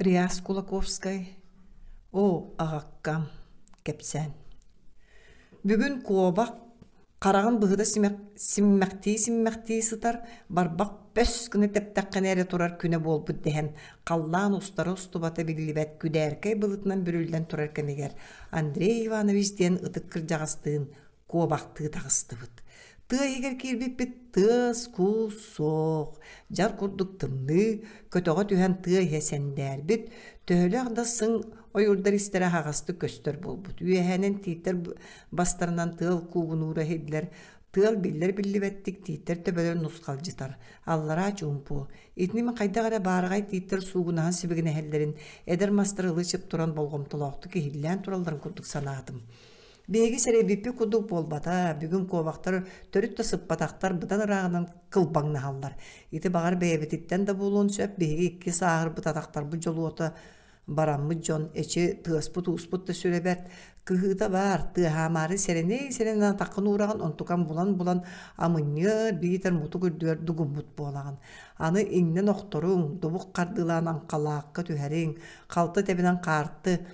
Реас Кулаковскай Оо, аҕаккам, кэпсээн Бүгүн куобах хараҕын быһыта симмэхтии-симмэхтии сытар, барбах бөс гына тэптэххинэ эрэ турар күнэ буолбут дэһэн, халлаан устара устубата биллибэт күдээркэй былытынан бүрүллэн турар кэмигэр Андрей Иванович диэн ытык кырдьаҕастыын куобахтыы таҕыстыбыт. Тыа иһигэр киирбиппит тыас, куус суох. Дьар курдук тымныы, көтөҕө түһэн тыа иһэ сэндээрбит. Төһөлөөх да сыҥ ойуурдар истэрэ аһаҕастык көстөр буолбут. Үөһэнэн тииттэр бастарынан тыал куугунуура иһиллэр. Тыал биллэр биллибэттик тииттэр төбөлөрүн нусхалдьытар. Аллараа чуумпу. Итинник хайдах эрэ баараҕай тииттэр суугунаһан сибигинэһэллэрин эдэр мастар ылы чып туран болҕомтолоохтук иһиллээн туралларын курдук санаатым. Биһиги сэрэйбиппит курдук буолбата, бүгүн куобахтар төрүт да сыппатахтар, быдан ырааҕынан кылбаҥнаһаллар. Ити баҕар бэйэбититтэн да буолуон сөп, биһиги икки сааһырбыт атахтарбыт дьолуота бараммыт дьон, эчи тыаспыт-ууспут да сүрэ бэрт, кыһыыта баар, тыаһаамаары сэрэнэй-сэрэнэн атаххын уураҕын, онтукам булан-булан амынньыар, биитэр мутук үрдүөр дугуммут буолаҕын. Аны иҥнэн охторуҥ, дубук хардыылаан аҥхалаахха түһэриҥ, халта тэбинэн хаарты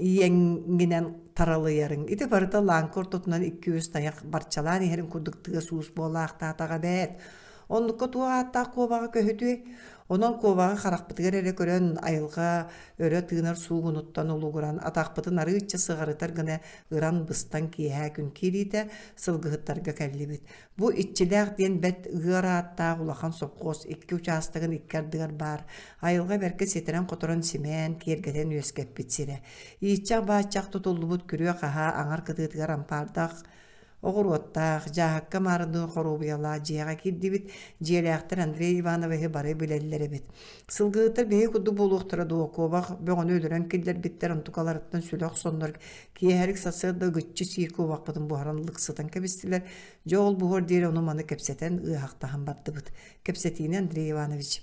иэҥҥинэн таралыйарыҥ. Ити барыта лааҥка ортотунан икки-үс тайах барчалаан иһэрин курдук тыас уус буолаахтаатаҕа бээт. Оннукка туох ааттаах куобаҕа көһүтүй? Онон куобаҕа харахпытыгар эрэ көрөн айылҕа өрө тыынар суугунуттан улугуран атахпытын арыычча сыҕарытар гына ыран быстан киэһээ күн киириитэ сылгыһыттарга кэллибит. Бу Иччилээх диэн бэрт ыар ааттаах улахан сопхуос икки учаастагын икки ардыгар баар айылҕа бэркэ ситэрэн-хоторон симээн, киэргэтэн үөскэппит сирэ. Ииччэх-бааччах тутуллубут күрүө-хаһаа аҥар кытыытыгар ампаардах оҕуруоттаах, дьааһыкка маарыныы хоруобуйалаах дьиэҕэ киирдибит, дьиэлээхтэр Андрей Ивановиһы бары билэллэр эбит. Сылгыһыттар биһиги курдук буолуохтара дуо, куобах бөҕөнү өлөрөн киллэрбиттэр, онтукаларыттан сүлэ охсоннор Киэһэрик сарсыарда гыччы сии куобахпытын буһаран лык сытан кэбистилэр. Дьэ ол буһуор диэри ону маны кэпсэтэн, ыаһахтаһан бардыбыт. Кэпсэтиини Андрей Иванович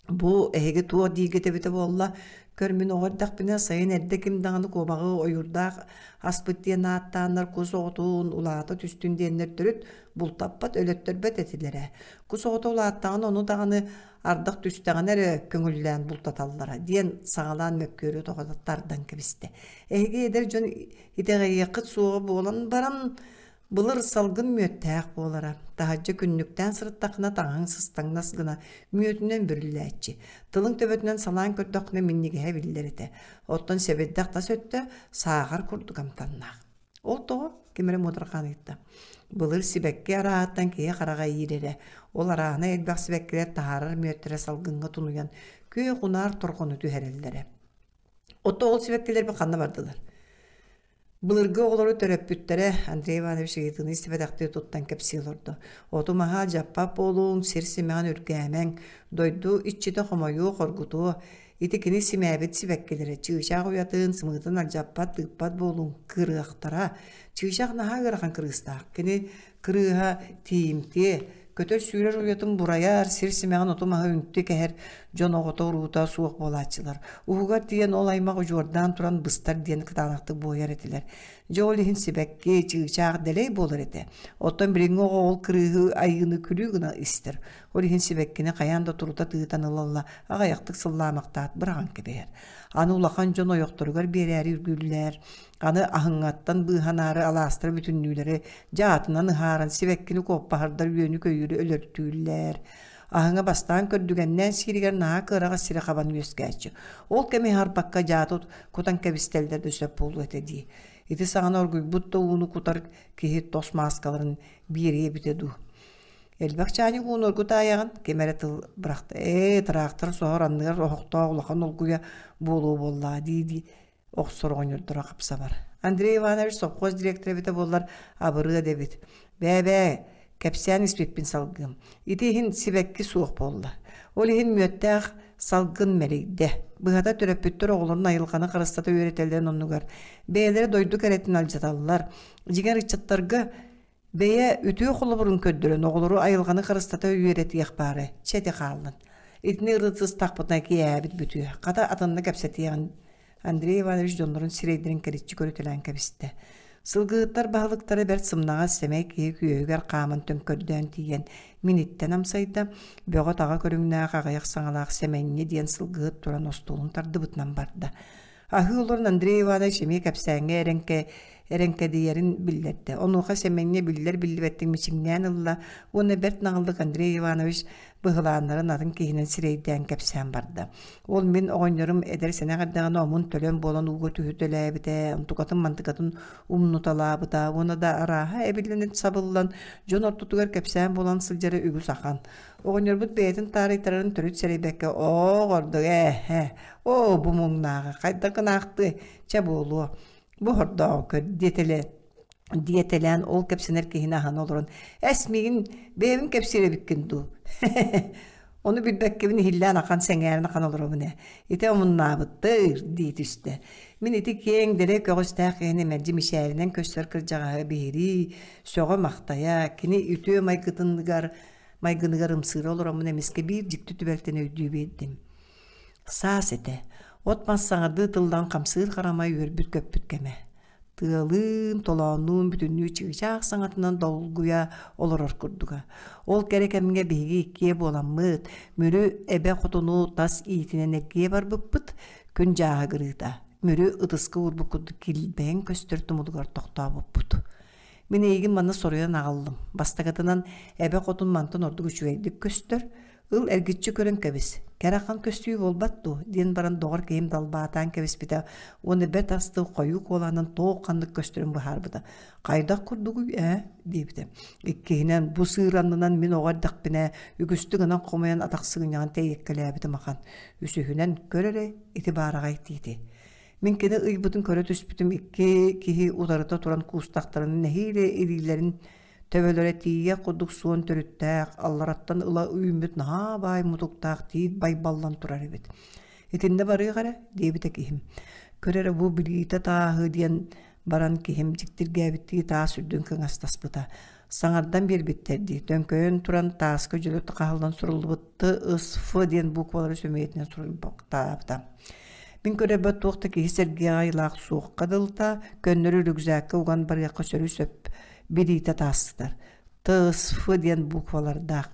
бу эһиги туох диигитэбитэ буолла көр мин оҕо эрдэхпинэ сайын эрдэ ким даҕаны куобаҕы ойуурдаах аспыт диэн ааттааннар кус оҕотун улаата түстүн диэннэр төрүт бултаппат өлөттөрбөт этилэрэ кус оҕото улааттаҕына ону даҕаны ардах түстэҕинэ эрэ көҥүллээн бултаталлара диэн саҕалаан мөккүөрү тоҕо тардан кэбистэ. Эһиги эдэр дьон итэҕэйиэххит суоҕа буолан баран былыр салгын мүөттээх буолара таһырдьа күннүктээн сырыттахына таҥаһыҥ сыстаҥнас гына мүөтүнэн бүрүллээччи тылың төбөтүнэн салаан көрдөххүнэ минньигэһэ биллэр этэ оттон сэбирдэх тас өттө сааҕар курдук амтаннаах Ол того ким эрэ муодарҕаан ыытта. Былыр сибэкки араатан киһи хараҕа иирэрэ. Ол араана элбэх сибэккилэр таһаарар мүөттэрэ салгыҥҥа тунуйан, күөх унаар торҕону түһэрэллэрэ. Оттон ол сибэккилэрбит ханна бардылар? Былыргы оҕолору төрөппүттэрэ Андрей Иванович ыйытыыны истибэтэхтии туттан кэпсии олордо. Оту маһа дьаппап буолуоҥ, сир симэҕин үргээмэҥ, дойду иччитэ хомойуо, хоргутуо, Ити кини симээбит сибэккилэрэ чыычаах уйатын сымыытын алдьаппат тыыппат буолуҥ кырыахтара. Чыычаах наһаа ыарахан кырыыстаах. Кини кырыыһа тиимтиэ, көтөр-сүүрэр уйатын бурайар, сир симэҕин оту-маһы үнтү кэһэр дьон оҕото-уруута суох буолааччылар. Уһугар тиийэн ол аймах удьуордаан туран быстар диэн кытаанахтык буойар этилэр. Дьэ ол иһин сибэкки, чыычаах дэлэй буолар этэ. Оттон билиҥҥи оҕо ол кырыыһы айыыны күлүү гына истэр. Ол иһин сибэккини хайаан да турута тыытан ылалла аҕайахтык сыллаамахтаат быраҕан кэбиһэр. Аны улахан дьон ойохторугар биэрээри үргүллэр. Аны аһыҥаттан быыһанаары алаастара бүтүннүүлэри дьаатынан ыһааран сибэккини куоппаһардар үөнү-көйүүрү өлөртүүллэр. Аһыҥа бастаан көрдүгэннээн сииригэр наһаа кыараҕас сирэ хабан үөскээччи. Ол кэми аһарбакка дьаатут кутан кэбистэллэр да сөп буолуо этэ дии. Ити саҕана оргуйбут да ууну кутар киһи тос мааскаларын биэриэ эбитэ дуу. Элбэх чаанньык уунургу таайаҕын ким эрэ тыл бырахта ээ тыраахтар соһор анныгар оһохтоох улахан улгуйа буолуо буоллаа дии дии охсор оҕонньордоро хапсабар Андрей Иванович совхоз директора эбитэ буоллар абырыа дэбит бээ-бээ кэпсээн испиппин салгыым ити иһин сибэкки суох буолла ол иһин мүөттээх салгын мэлийдэ быһата төрөппүттэр оҕолорун айылҕаны харыстата үөрэтэллэрин оннугар бэйэлэрэ дойду кэрэтин алдьаталлар дьиҥэр ыччаттарга Бэйэ үтүө холобурун көрдөрөн оҕолору айылҕаны харыстата үөрэтиэх баара чэ хааллын. Итини ырытыстахпытына киээбит бүтүө. Хата атынна кэпсэтиэҕин Андрей Иванович дьоннорун сирэйдэрин кэриччи көрүтэлээн кэбистэ. Сылгыһыттар баһылыктара бэрт сымнаҕас сэмэй киһи күөһүгэр хааман төҥкөрдөөн тиийэн миниттэн амсайда, бөҕө-таҕа көрүҥнээх аҕыйах саҥалаах сэмэнньэ диэн сылгыһыт туран остуолун тардыбытынан барда. Аһыы олорон Андрей Иванович эмиэ кэпсээҥҥэ эрэҥкэ эрэҥкэдийэрин биллэрдэ. Онуоха Сэмэнньэ биллэр-биллибэттик мичиҥнээн ылла уонна бэрт наҕыллык Андрей Иванович быһылааннарын атын киһинэн сирэйдээн кэпсээн барда. Ол мин оҕонньорум эдэр сэнэх эрдэҕинэ омун төлөн буолан ууга түһүтэлээбитэ, онтукатын-мантыкатын умнуталаабыта уонна да арааһа эбиллэн сабыллан дьон ортотугар кэпсээн буолан сылдьара үгүс ахан. Оҕонньорбут бэйэтин таарыйтарарын төрүт сэрэйбэккэ оо ордук ээ оо бу муҥнааҕы хайдах гынаахтыы чэ буолуо бу хордооҕу диэтэлээн диэтэлээн ол кэпсэнэр киһини аһан олорон эс миигин бэйэбин кэпсиэрэбиккин дуу ону билбэккэбин иһиллээн ахан сэҥээрэн ахан олоробун ээ ити омуннаабыттыр дии түстэ мин ити киэҥ дэлэй көҕүстээх киһини мэлдьи мичээринэн көстөр кырдьаҕаһы биһирии сөҕө-махтайа кини үтүө майгытыныгар Майгыныгар ымсыыра олороммун эмискэ биир дьикти түбэлтэн өйдүү биэрдим. Саас этэ. От-мас саҥардыы тыллан хамсыыр харамай үөрбүт-көппүт кэмэ. Тыалыын, толооннуун бүтүннүү чыычаах саҥатынан долгуйа олорор курдуга. Ол кэрэ кэмҥэ биһиги иккиэ буоламмыт, Мүрү эбэ хотуну тас иитинэн эргийэ барбыппыт, күн дьааһыгырыыта. Мүрү ытыска уурбут курдук килбэйэн көстөр тумулугар тохтообуппут. Мин эйигин манна соруйан аҕаллым. Бастакытынан, эбэ хотун мантан ордук үчүгэйдик көстөр. Ыл эргиччи көрөн кэбис. Кэрахан көстүү буолбат дуу? диэн баран доҕор киһим далбаатаан кэбиспитэ уонна бэрт астыы хойуу куолаһынан туох ханнык көстөрүн быһаарбыта. Хайдах курдугуй ээ диэбитэ. Иккиһинэн, бу сыыр аннынан мин оҕо эрдэхпинэ үгүстүк гынан хомойон атах сыгынньаҕын тэйиэккэлээбитим ахан. Үсүһүнэн, көр эрэ ити баараҕай тиити. Мин кини ыйбытын көрө түспүтүм икки киһи утарыта туран куустахтарын нэһиилэ илиилэрин төбөлөрө тиийэ курдук суон төрүттээх, аллараттан ыла үүммүт наһаа баай мутуктаах тиит байбаллан турар эбит. Итиннэ барыах эрэ диэбитэ киһим. Көр эрэ бу билиитэ тааһы диэн баран киһим дьиктиргээбиттии таас үрдүн кыҥастаспыта. саҥардан биэрбиттэр дии төҥкөйөн туран тааска дьөлү хаһаллан суруллубут ТСФ диэн буквалары сөмүйэтинэн суруйбахтаабыта мин көрөбөт туох да киһи сэргиэх айылаах суохха дылыта көннөрү рюкзакка уган барыахха сөрү сөп билиитэ таастар ТСФ диэн буквалардаах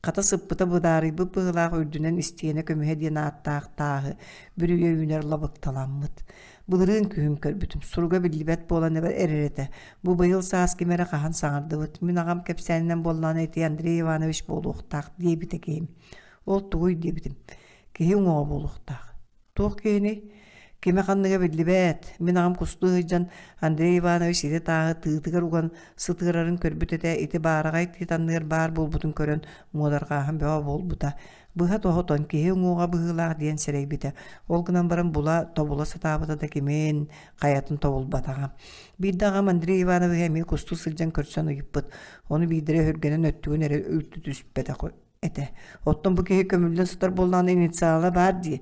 хата сыппыта быдаарыйбыт быһылаах үрдүнэн истиэнэ көмүһэ диэн ааттаах тааһы бүрүйэ үүнэр лабыкталаммыт Былырыын күһүм көрбүтүм. Суруга биллибэт буолан эбэр эрэр этэ. Бу быйыл саас ким эрэ хаһан саҥардыбыт. Мин аҕам кэпсээнинэн буоллаҕына ити Андрей Иванович буолуохтаах диэбитэ киһим. Ол тугуй диэбитим. Киһи уҥуоҕа буолуохтаах. Туох киһини? Кимэ ханныга биллибэт. Мин аҕам кустуу сылдьан Андрей Иванович ити тааһы тыытыгар уган сытыарарын көрбүт этэ. Ити баараҕай титанныгар баар буолбутун көрөн муодарҕааһын бөҕө буолбута. Быһа тоһотон киһи уҥуоҕа быһыылаах диэн сэрэйбитэ. Ол гынан баран була тобула сатаабыта да кимин, хайатын тобулбатаҕа. Биирдэ аҕам Андрей Ивановиһы эмиэ кустуу сылдьан көрсөн ыйыппыт. Ону биирдэрэ өргөнөн өттүгүн эрэ үлтү түспэтэх этэ. Оттон бу киһи көмүллэн сытар буоллаҕына инициала баар дии.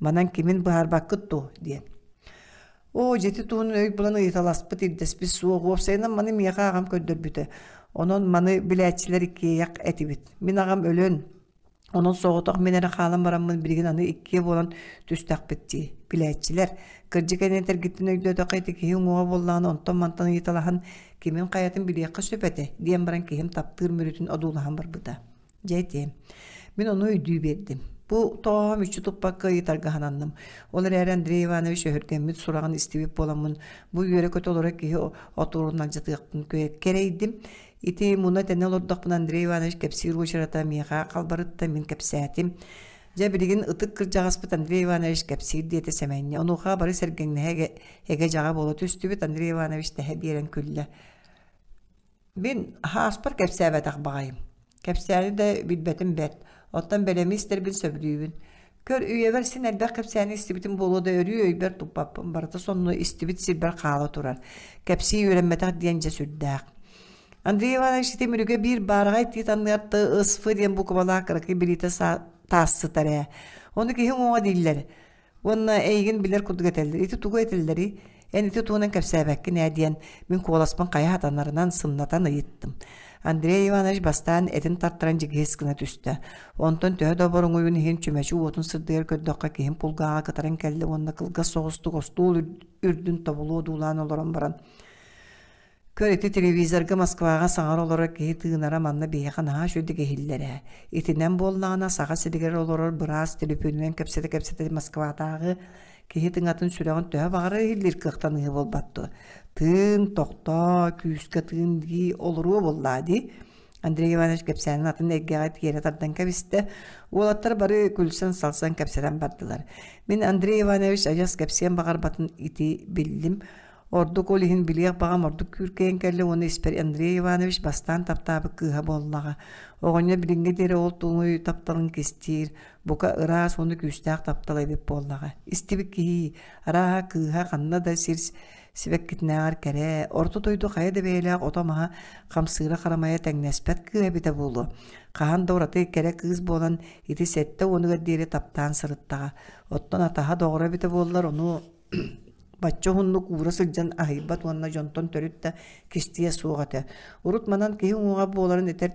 Манан кимин быһаарбаккыт дуо диэн. Оо, дьити туһунан өй булан ыйыталаспыт ирдэспит суох. Уопсайынан маны миэхэ аҕам көрдөрбүтэ. Онон маны билээччилэр иккиэйэх этибит. Мин аҕам өлөн, онон соҕотох мин эрэ хаалан бараммын билигин аны иккиэ буолан түстэхпит дии. Билээччилэр, кырдьык эн этэргиттэн өйдөөтөххө ити киһи уҥуоҕа буоллаҕына онтон-мантан ыйыталаһан кимин хайатын билиэххэ сөп этэ, диэн баран киһим таптыыр мүрүтүн одуулаһан барбыта. Дьэ этиэм. Мин ону өйдүү биэрдим. Бу тоһоҕом үччү туппакка ыйытаргаһананным. Ол эрээри Андрей Иванович өһүргэммит сураҕын истибит буоламмын, бу үөрэ-көтө олоро киһи отуурун алдьатыахпын кэрэйдим. Ити муна тэнэ олордохпун Андрей Иванович кэпсиир уочарата миэхэ халбарытта мин кэпсээтим. Дьэ билигин ытык кырдьаҕаспыт Андрей Иванович кэпсиир диэтэ Сэмэнньэ. Онуоха бары сэргэҥнэһэ эгэ-эгэ-эгэ дьаҕа буола түстүбүт Андрей Иванович тэһэ биэрэн күллэ. Мин хааспар кэпсээбэтэх баҕайым. Кэпсээни да билбэтим бэрт. Оттон бэлэми истэрбин сөбүлүүбүн. Көр үйэбэр син элбэх кэпсээни истибитим буолуо да өрүү өйбөр туппаппын. Барыта сонно истибит сирбэр хаала турар. Кэпсии үөрэммэтэх диэн дьэ сүрдээх. Андрей Иванович ити мүрүгэ биир баараҕай тиит анныатта ысфы диэн буквалаах кыракый билиитэ таассытар ээ. Ону киһи уҥуоҕа дииллэр. Уонна эйигин билэр курдук этэллэр. Ити тугу этэллэрий? Эн ити тугунан кэпсээбэккин ээ диэн мин куоласпын хайа хатанарынан сымнатан ыйыттым. Андрей Иванович бастаан этин тартаран дьигиһис гына түстэ. Онтон төһө да оборуҥуйун иһин чүмэчи уотун сырдыгар көрдөххө киһим пулгааҕа кытаран кэллэ уонна кылгас соҕустук остуол үрдүн тобулу одуулаан олорон баран Көр ити телевизорга Москваҕа саҥара олорор киһи тыынара манна биһиэхэ наһаа үчүгэй иһиллэр ээ. Итинэн буоллаҕына саха сиригэр олорор быраас телепүүнүнэн кэпсэтэ-кэпсэтэ Москватааҕы киһи тыҥатын сүрэҕин төһө баҕара иһиллиир кыахтаныыһы буолбат дуо? Тыын тохтоо, күүскэ тыын дии олоруо буоллаа дии. Андрей Иванович кэпсээнин атын эйгэҕэ тиэрэ тардан кэбистэ. Уолаттар бары күлсэн-салсан кэпсэтэн бардылар. Мин Андрей Иванович адьас кэпсиэн баҕарбатын ити биллим. Ордук ол иһин билиэх баҕам ордук күүркэйэн кэллэ уонна испэр Андрей Иванович бастаан таптаабыт кыыһа буоллаҕа. Оҕонньор билиҥҥэ диэри ол туҥуй тапталын кистиир, бука ыраас уонна күүстээх таптал эбит буоллаҕа. Истибит киһи арааһа кыыһа ханна да сир сибэккитинээҕэр кэрэ, орто дойду хайа да бэйэлээх ото-маһа хамсыыра-харамайа тэҥнэспэт кыыһа эбитэ буолуо. Хаһан да ураты кэрэ кыыс буолан ити сэттэ уонугар диэри таптаан сырыттаҕа. Оттон атаһа доҕоро эбитэ буоллар, ону бачча уһуннук уура сылдьан аһыйбат уонна дьонтон төрүт да кистиэ суох этэ урут манан киһи уҥуоҕа буоларын этэр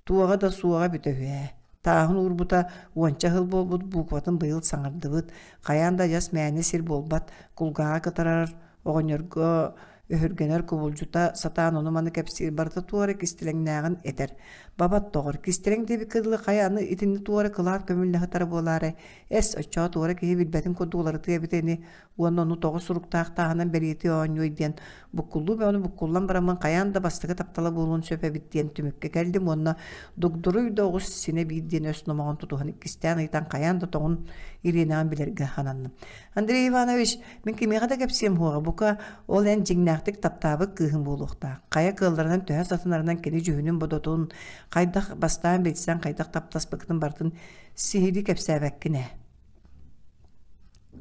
туоҕа да суоҕа бүтэ үһэ тааһын уурбута уонча сыл буолбут буукубатын быйыл саҥардыбыт хайаан да адьас мээнэ сир буолбат кулгааҕа кытарар оҕонньорго Өһүргэнэр кубулдьута сатаан ону-маны кэпсиир барыта туора кистэлэҥнээҕин этэр. Бабат тоҕор кистэлэҥ диэбит кыылы хайа аны итинни туора кылаар көмүллэһитара буолаары эс оччоо туора киһи билбэтин курдук уларытыа эбитэ ини уонна ону тоҕо суруктаах тааһынан бэлиэтии оонньуой диэн буккуллуу бөҕөнү буккуллан бараммын хайаан да бастакы таптала буолуон сөп эбит диэн түмүккэ кэллим уонна дугдуруй да оҕус синэ биир диэн өс номоҕон тутуһан иккистээн ыйтан хайаан да тоҕун ириэнэҕин билэргэ хананным Андрей Иванович Мин кимиэхэ да кэпсиэм хуоҕа, бука, ол эн дьиҥнээхтик таптаабыт кыыһым буолуохтаах. Хайа кыалларынан төһө сатанарынан кини дьүһүнүн-бодотун хайдах бастаан билсэн, хайдах таптаспыккын бартын сиһилии кэпсээбэккин ээ.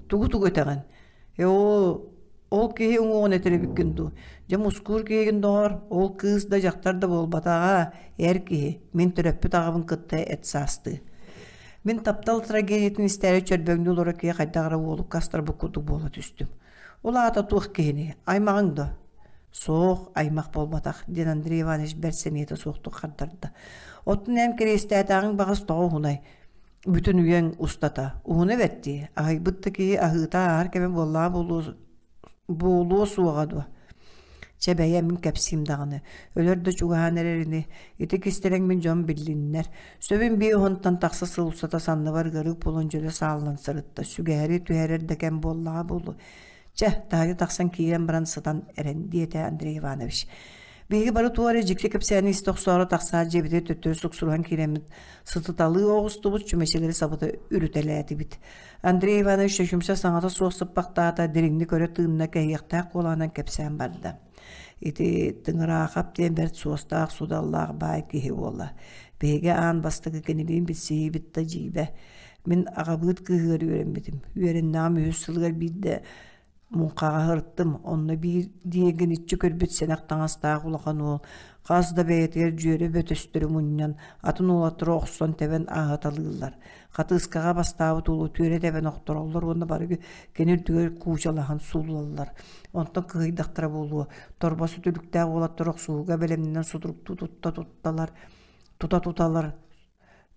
Тугу-тугу этэҕин? Э ол ол киһи уҥуоҕун этэр эбиккин дуу? Дьэ мускуур киһигин доҕор, ол кыыс да дьахтар да буолбатаҕа, эр киһи. Мин төрөппүт аҕабын кытта эт саастыы. Мин таптал трагедиятын истээри чөрбөҥнүү олоро киһи хайдах эрэ уолукка астарбыт курдук буола түстүм. Ол аата туох киһини? Аймаҕыҥ до? Суох, аймах буолбатах, диэн Андрей Иванович бэрт сэниэтэ суохтук хардарда. Оттон эн кириэстээтээҕиҥ баҕас тоҕо уһунай? Бүтүн үйэҥ устата. Уһуна эбэттии, аһыйбыт да киһи аһыыта ааһар кэмэ буоллаа буолуо буолуо суоҕа дуо чэ бэйэ мин кэпсиим даҕаны өлөр да чугаһаан эрэр ини ити кистэлэҥ мин дьон биллиннэр сөбүн биир оһонтон тахса сыл устата санныбар ыарык буолан дьөлө сааллан сырытта сүгэһэри түһэрэр да кэм буоллаҕа буолуо чэ таһырдьа тахсан киирэн баран сытан эрэн диэтэ Андрей Иванович биһиги бары туора дьикти кэпсээни истэ охсоору тахсаат дьиэбитэ төттөрү суксуруһан киирэммит сытыталыы оҕустубут чүмэчилэри сабыта үрүтэлээтибит Андрей Иванович чөчүмсэ саҥата суох сыппахтаата, дириҥник өрө тыынна, кэһиэхтээх куолаһынан кэпсээн барда. Ити Тыҥыраахап диэн бэрт суостаах, судаллаах баай киһи буолла. Биһиги аан бастакы кинилиин билсиһиибит да дьиибэ. Мин аҕабыыт кыыһыгар үөрэммитим. Үөрэннэҕим үһүс сылыгар биирдэ муҥхаҕа сырыттым онно биир диэҥиниччи көрбүт сэнэх таҥастаах улахан уол хас да бэйэтигэр дьүөрэ бөтөстөрү мунньан атын уолаттары охсон тэбэн ааһыталыыллар хатыыскаҕа бастаабыт уолу түөрэ тэбэн охтороллор уонна барыгы кини үрдүгэр куучалаһан сууллаллар онтон кыһыйдахтара буолуо торбос үтүлүктээх уолаттар охсуһууга бэлэмнэнэн судуруктуу тутта тутталар тута туталар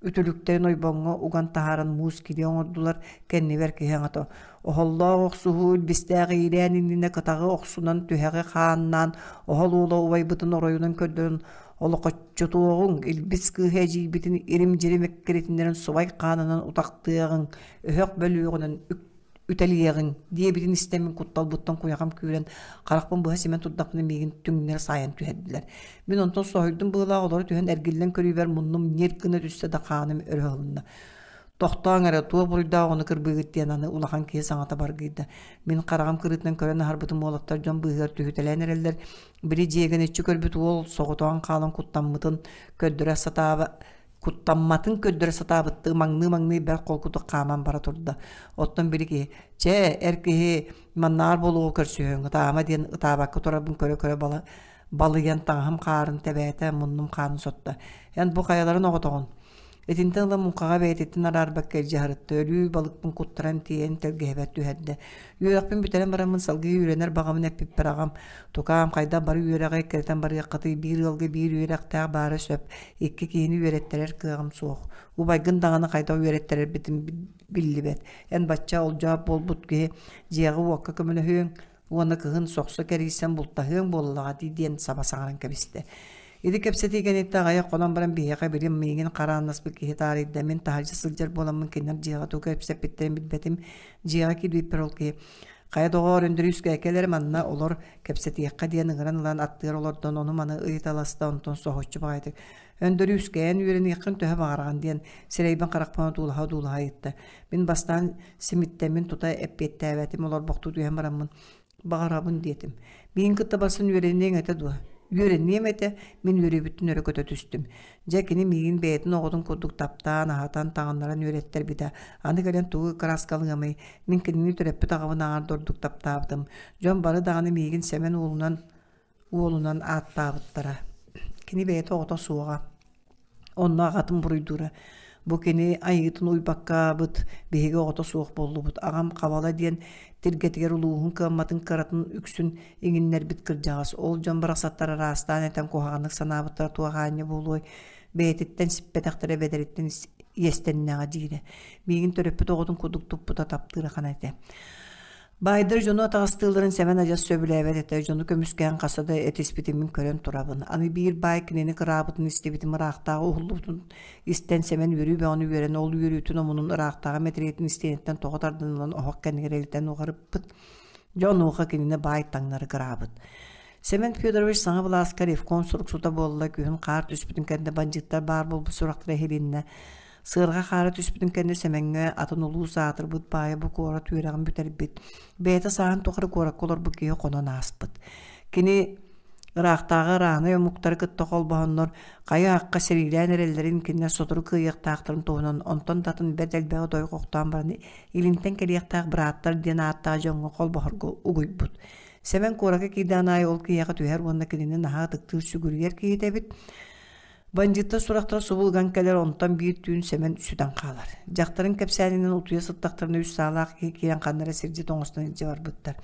Үтүлүктэрин ойбоҥҥо уган таһааран муус килиэ оҥордулар, кэннибэр киһи аҥата оһоллоох охсуһуу илбистээх иилээн иннинэ кытаҕы охсунан түһэҕи хааннаан оһол уола убайбытын оройунан көрдөрөн олохоччутуоҕуҥ илбис кыыһа эдьиийбитин ирим-дьирим эккирэтиннэрэн субай хаанынан утахтыаҕыҥ өһөх бөлүөҕүнэн үк үтэлийэҕин диэбитин истэммин кутталбыттан куйахам күүрэн харахпын быһа симэн турдахпына миигин түҥнэри саайан түһэрдилэр мин онтон соһуйдум быылаах олору түһэн эргиллэн көрүүбэр муннум ньир гына түстэ да хааным өрө ылынна тохтооҥ эрэ туох буруйдаах ону кырбыыгыт диэн аны улахан киһи саҥата баргыйда мин хараҕым кырыытынан көрөн аһарбытым уолаттар дьон быыһыгар түһүтэлээн эрэллэр били дьиэгэн иччи көрбүт уол соҕотоҕун хаалан куттаммытын көрдөрө сатаабы куттамматын көрдөрө сатаабыттыы маҥныы-маҥныы бэрт холкутук хааман бара турда. Оттон бiri киһи «Чэ, эр киһи маннаар болугу көрсүһүҥ, ытаама» диэн ытаабакка турарбын көрө-көрө бала балыйан таҥаһым хаарын тэбээтэ, муннум хаанын сотто. Эн бу хайаларын оҕотоҕун? Итинтэн ыла муҥхаҕа бэйэтиттэн араарбакка илдьэ сарытта, өлүү балыкпын куттаран тиэйэн тэлгэһэбэр түһэрдэ. Үөрэхпин бүтэрэн бараммын салгыы үөрэнэр баҕамын эппиппэр аҕам «Тукаам, хайдах бары үөрэҕи эккирэтэн барыаххытый, биир ыалга биир үөрэхтээх баара сөп, икки киһини үөрэттэрэр кыаҕым суох. Убайгын даҕаны хайдах үөрэттэрэрбитин биллибэт. Эн бачча олдьоох буолбут киһи дьиэҕи-уокка көмөлөһүөҥ уонна кыһын сохсо кэрийсэн бултаһыаҥ буоллаҕа дии» диэн саба саҥаран кэбистэ. Ити кэпсэтии кэнниттэн аҕыйах хонон баран биһиэхэ билим миигин харааннаспыт киһи таарыйда. Мин таһырдьа сылдьар буоламмын кинилэр дьиэҕэ тугу кэпсэппиттэрин билбэтим. дьиэҕэ киирбиппэр ол киһи хайа доҕоор Өндөрүүскэ кэлэр манна олор кэпсэтиэххэ диэн ыҥыран ылан аттыгар олордон ону маны ыйыталаста онтон соһуччу баҕайытык Өндөрүүскээн үөрэниэххин төһө баҕараҕын диэн сирэйбин харахпын одуулаһа-одуулаһа ыйытта мин бастаан симиттэммин тута эппиэттээбэтим олорбохтуу түһэн бараммын баҕарабын диэтим. Мин кытта барсан үөрэниэҥ этэ дуо? Үөрэниэм этэ, мин үөрүүбүттэн өрө көтө түстүм. Дьэ кини миигин бэйэтин оҕотун курдук таптаан, аһатан, таҥыннаран үөрэттэр битэ. Аны кэлэн тугу ыккарааскалыамый? Мин кинини төрөппүт аҕабын ааҕар дордук таптаабытым. Дьон бары даҕаны миигин Сэмэн уолунан уолунан ааттаабыттара. Кини бэйэтэ оҕото суоҕа. Онно аҕатын буруйдуура. Бу кини айыытын уйбаккаабыт, биһиги оҕото суох буоллубут. Аҕам Хабала диэн тиргэтигэр улууһун кыамматын кыратын үксүн иҥиннэрбит кырдьаҕас. Ол дьон барахсаттар араастаан этэн куһаҕаннык санаабыттара туох аанньа буолуой, бэйэтиттэн сиппэтэхтэрэ бэдэриттэн иэстэннэҕэ диирэ. Миигин төрөппүт оҕотун курдук туппута таптыыра хана этэ. Баайдар дьону атаҕастыылларын Сэмэн адьас сөбүлээбэт этэ. Дьону көмүскээн хаста да этиспитин мин көрөн турабын. Аны биир баай кинини кыраабытын истибитим ыраахтааҕы уһуллубутун истэн Сэмэн үөрүү бөҕөнү үөрэн ол үөрүүтүн омунун ыраахтааҕы мэтириэтин истиэниттэн тоҕо тардынынан оһох кэннигэр илитэн уҕарыппыт. Дьэ онуоха кинини баай таҥнары кыраабыт. Семен Федорович саҥа былааска ревкон сурук сута буолла, күһүн хаар түспүтүн кэннэ бандьыыттар баар буолбут сурахтара иһилиннэ. Сыарҕа хаара түспүтүн кэннэ Сэмэҥҥэ атын улуус аатырбыт баайа бу куорат үөрэҕин бүтэрбит, бэйэтэ сааһын тухары куоракка олорбут киһи хонон ааспыт. Кини ыраахтааҕы араанай омуктары кытта холбоһоннор хайа-аахха сэриилээн эрэллэрин кинилэр сотору кыайыахтаахтарын туһунан онтон датын бэрт элбэҕи дойҕу охтоон баран илинтэн кэлиэхтээх бырааттар диэн ааттаах дьоҥҥо холбоһорго угуйбут. Сэмэн куорака киирдэҕин аайы ол киһиэхэ түһэр уонна кинини наһаа ытыктыыр сүгүрүйэр киһитэ эбит. Бандьыыттар сурахтара субулган кэлэр, онтон биир түүн Сэмэн сүтэн хаалар. Дьахтарын кэпсээнинэн утуйа сыттахтарына үс саалаах киһи киирэн ханнара сирдьи тоҥустан илдьэ барбыттар.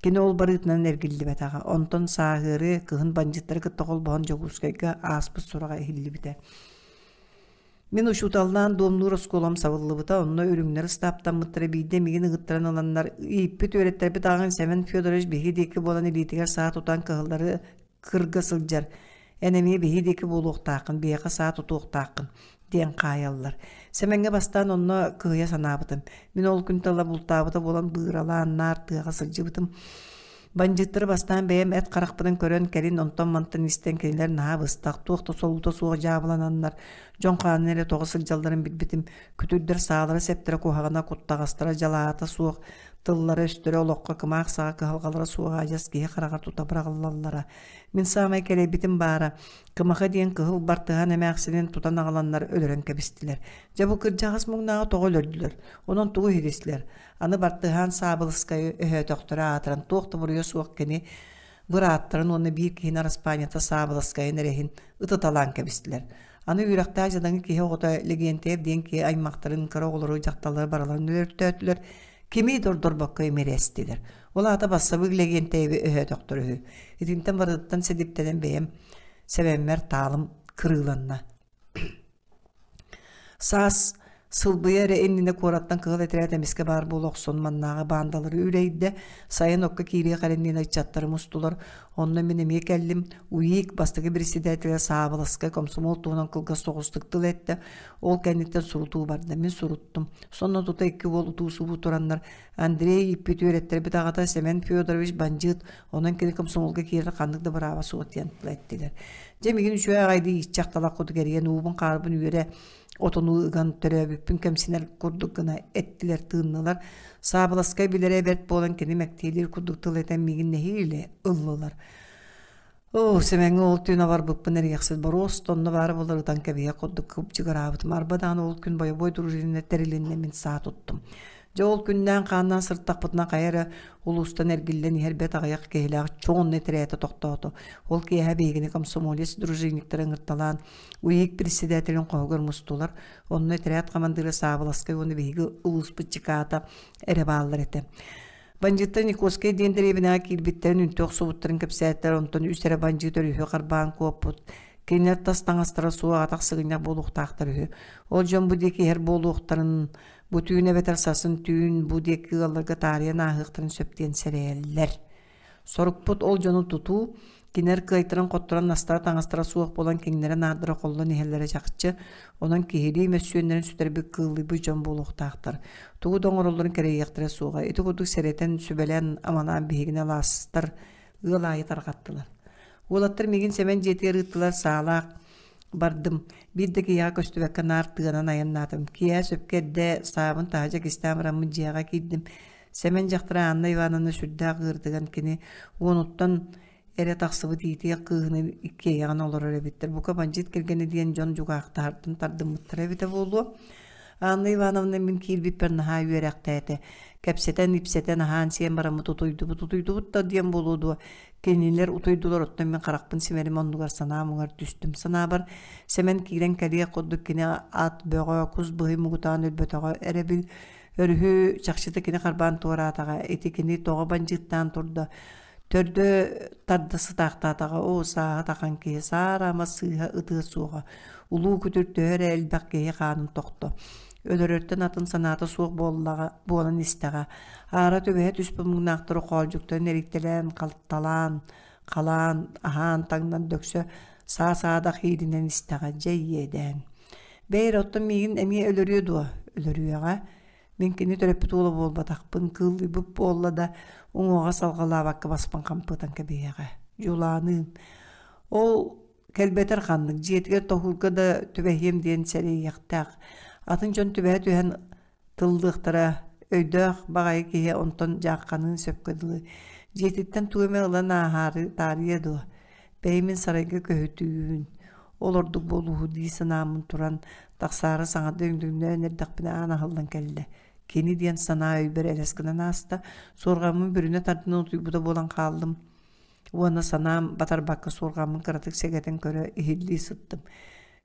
Кини ол барыытынан эргиллибэтэҕэ. Онтон сааһыары кыһын бандьыттары кытта холбоһон Дьокуускайга ааспыт сураҕа иһиллибитэ. Мин учууталлаан дуомнуур оскуолам сабыллыбыта, онно үрүҥнэр ыстааптаммыттара биирдэ мигин ыгыттаран ыланнар ииппит үөрэттэрбит ааҕын Сэмэн Федорович биһиги диэки буолан илиитигэр саа тутан кыһыллары кырга сылдьар Эн эмиэ биһи диэки буолуохтааххын, биһиэхэ саа тутуохтааххын, диэн хаайаллар. Сэмэҥҥэ бастаан онно кыһыйа санаабытым. Мин ол күн тала бултаабыта буолан быыралаан наар тыаҕа сылдьыбытым. Бандьыыттары бастаан бэйэм эт харахпытын көрөн кэлин онтон-мантан истэн кинилэр наһаа быстах, туох да солуута суох дьаабылананнар, дьон хаанын эрэ тоҕо сылдьалларын билбитим. Күтүрдэр саалара-сэптэрэ куһаҕана, куттаҕастара дьалаата суох, тыллара-өстөрө олоххо кымаах саҕа кыһалҕалара суох аадьас киһи хараҕа тута быраҕыллаллара. Мин саамай кэлэйбитим баара, Кымаха диэн кыһыл бартыһан эмээхсинин тутан аҕаланнар өлөрөн кэбистилэр. Дьэ бу кырдьаҕас муҥнааҕы тоҕо өлөрдүлэр, онон тугу иһитислэр? Аны бартыһаан Саабылыскайы өһөөтөхтөрө аатыран туох да буруйа суох кини бырааттарын уонна биир киһини араспаанньата Саабылыскайын эрэһин ытыталаан кэбистилэр. Аны үөрэхтээх дьадаҥы киһи оҕото Лэгиэнтэйп диэн киһи аймахтарын кыра оҕолору дьахталлары барыларын өлөртөөтүлэр, кими да ордорбокко имирэстилэр. Ол аата бассабыык лэгиэнтэйэби өһөөтөхтөр үһү. Итинтэн барытыттан сэдиптэнэн бэйэм сэбэммэр таалым кырыыланна. Саас сылбыйа эрэ иннинэ куораттан кыһыл этирээт эмискэ баар буола охсон маннааҕы баандалары үлэйдэ, сайын окко киирии халиннина ыччаттарым устулар, онно мин эмиэ кэллим, УИК бастакы председателэ Саабыласкай комсомол туһунан кылгас соҕустук тыл эттэ, ол кэнниттэн сурутуу барда, мин суруттум, сонно тута икки уол утуусубуу тураннар Андрей ииппит үөрэттэрбит аҕата Семен Федорович бандьыыт, онон кини комсомолга киирэр ханнык да бырааба суох диэн тыла эттилэр. Дьэ мигин үчүгэй аҕайдыы иччэх талах кутук эрийэн уубун-хаарбын үөрэ отону ыган төрөөбүппүн кэмсинэр курдук гына эттилэр тыыннылар. Саабыласкай билэрэ бэрт буолан кини мэктиэлиир курдук тыл этэн мигин нэһиилэ ыллылар. Оо, Сэмэҥҥэ ол түүн абарбыппын эрийэхсит боруос онно баара буолар ытан кэбиһэ курдук кыбдьыгыраабытым. Арба даҕаны ол күн бойобуой дружиннар тэрилиннэ мин саа туттум. Дьэ ол күннээн-хааннаан сыртахпытына хайа эрэ улуустан эргиллэн иһэр бэт аҕыйах киһилээх чоҥ онно тирээтэ тохтоото. Ол киэһэ биһигини комсомолец дружинниктары ыҥырталаан УИИК председателин хоһугар мустулар. Онно тирээт хамандыыра Саабыласкай уонна биһиги улууспут чекаата эрэ бааллар этэ. Бандьыттар Никольскай диэн дэриэбинэҕэ киирбиттэрин үнтү охсубуттарын кэпсээттэр, онтон үс эрэ бандьыыт өрүһү харбаан куоппут. Кинилэр тас таҥастара суох атах сыгынньах буолуохтаахтар үһү. Ол дьон бу диэки иһэр буолуохтарын, бу түүн эбэтэр сасын түүн бу диэки ыалларга таарыйан ааһыахтарын сөп диэн сэрэйэллэр. Сорукпут ол дьону тутуу, кинилэр кыайтаран-хотторон настара-таҥастара суох буолан киҥнэрэ наардара холлон иһэллэрэ чахчы, онон киһилии мөссүөннэрин сүтэрбит кыыллыйбыт дьон буолуохтаахтар. Тугу да оҥороллорун кэрэйиэхтэрэ суоҕа. Ити курдук сэрэтэн, сүбэлээн, аманаан биһигини алаастар ыал аайы тарҕаттылар. Уолаттар мигин Сэмэн дьиэтигэр ыыттылар саалаах бардым. Биир да киһиэхэ көстүбэккэ наар тыанан айаннаатым. Киэһэ сөпкө эрдэ саабын таһырдьа кистээн бараммыт дьиэҕэ киирдим. Сэмэн дьахтара Анна Ивановна сүрдээх ыырдыган кини уонуттан эрэ тахсыбыт иитиэх кыыһыны иккиэйэҕин олорор эбиттэр. Бука бандьыыт кэргэнэ диэн дьон дьукаахтаһартан тардыммыттара эбитэ буолуо. Анна Ивановна мин киирбиппэр наһаа үөрэхтээтэ. Кэпсэтэн, ипсэтэн, аһаан-сиэн бараммыт утуйдубут, утуйдубут да диэн буолуо дуо, кинилэр утуйдулар, оттон мин харахпын симэрим оннугар санаамыгар түстүм. Санаабар Сэмэн киирэн кэлиэх курдук кини ат бөҕө, кус быһый мугутаан өлбөтөҕө эрэ bil Өрүһү чахчыта кини харбаан туораатаҕа, ити кини тоҕо бандьыыттаан турда. Төрдө тарда сытаахтаатаҕа, оо сааһа тахан киһи, саара ама сыыһа ытыа суоҕа. Улуу күтүр төһө эрэ элбэх киһи хаанын тохто. Өлөрөртөн атын санаата суох буоллаҕа буолан истэҕэ. Аара түбэһэ түспүт муҥнаахтары хоолдьуктан эриктэлээн, халталаан, Халаан аһаан таҥнан дөксө саа-саадах ииринэн истэҕэ дьэ иэдээн. Бэйэр оттон миигин эмиэ өлөрүө дуо? Өлөрүөҕэ. Мин кини төрөппүт уола буолбатахпын, кыыллыйбыт буолла да уҥуоҕа салҕалаабакка баспын хампытан кэбиһиэҕэ. Дьулааныым. Ол кэлбэтэр ханнык дьиэтигэр тоһуурга да түбэһиэм диэн сэрэйиэхтээх. Атын дьон түбэһэ түһэн тыллыахтара өйдөөх баҕайы киһи онтон дьаахханыы сөпкө дылы дьиэтиттэн тугу эмэ ылан ааһаары таарыйа дуо бэйэмин сарайга көһүтүүн ол ордук буолууһу дии санааммын туран тахсаары саҥарда өҥдөҥнөөн эрдэхпинэ аан аһыллан кэллэ кини диэн санаа өйбөр элэс гынан ааста суорҕаммын бүрүнэ тардынан утуйбута буолан хааллым Уонна санаам батарбакка суорҕаммын кыратык сэгэтэн көрө иһиллии сыттым.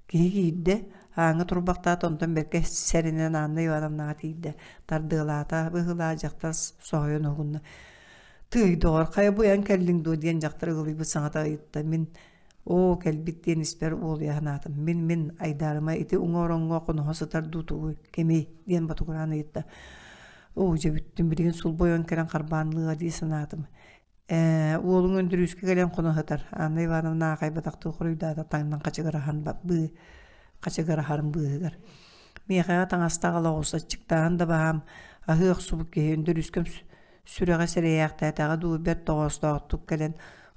Киһи киирдэ, ааҥҥа турбахтаата, онтон бэркэ сэринэн Анна Ивановнаҕа тиийдэ. Тардыалаата быһыылаах, дьахтар соһуйан уһунна. Тыый, доҕор, хайа буйан кэллиҥ дуо диэн дьахтар ыгылыйбыт саҥата ыйытта. Мин оо кэлбит диэн испэр уолуйа санаатым. Мин мин Айдаарыма ити уҥа-ороҥҥо хоноһо сытар дуу тугуй, кимий диэн ботугураан ыйытта. Оо дьэ бүттүм билигин сулбу ойон кэлэн харбаанлыа дии санаатым. Э, уолуҥ Өндөрүүскэ кэлэн хоноһотор. Анна Ивановна аахайбатахтыы хоруйдаата таҥнан хачыгыраһан ба- быы хачыгыраһарын быыһыгар. Миэхэҕэ таҥастаах олоҕурсаччыктааһын да баһаам, аһыы охсубут киһи Өндөрүүскэм сү- сүрэҕэ сэрэйээхтээтэҕэ дуу, бэрт тоҕоостоохтук кэлэн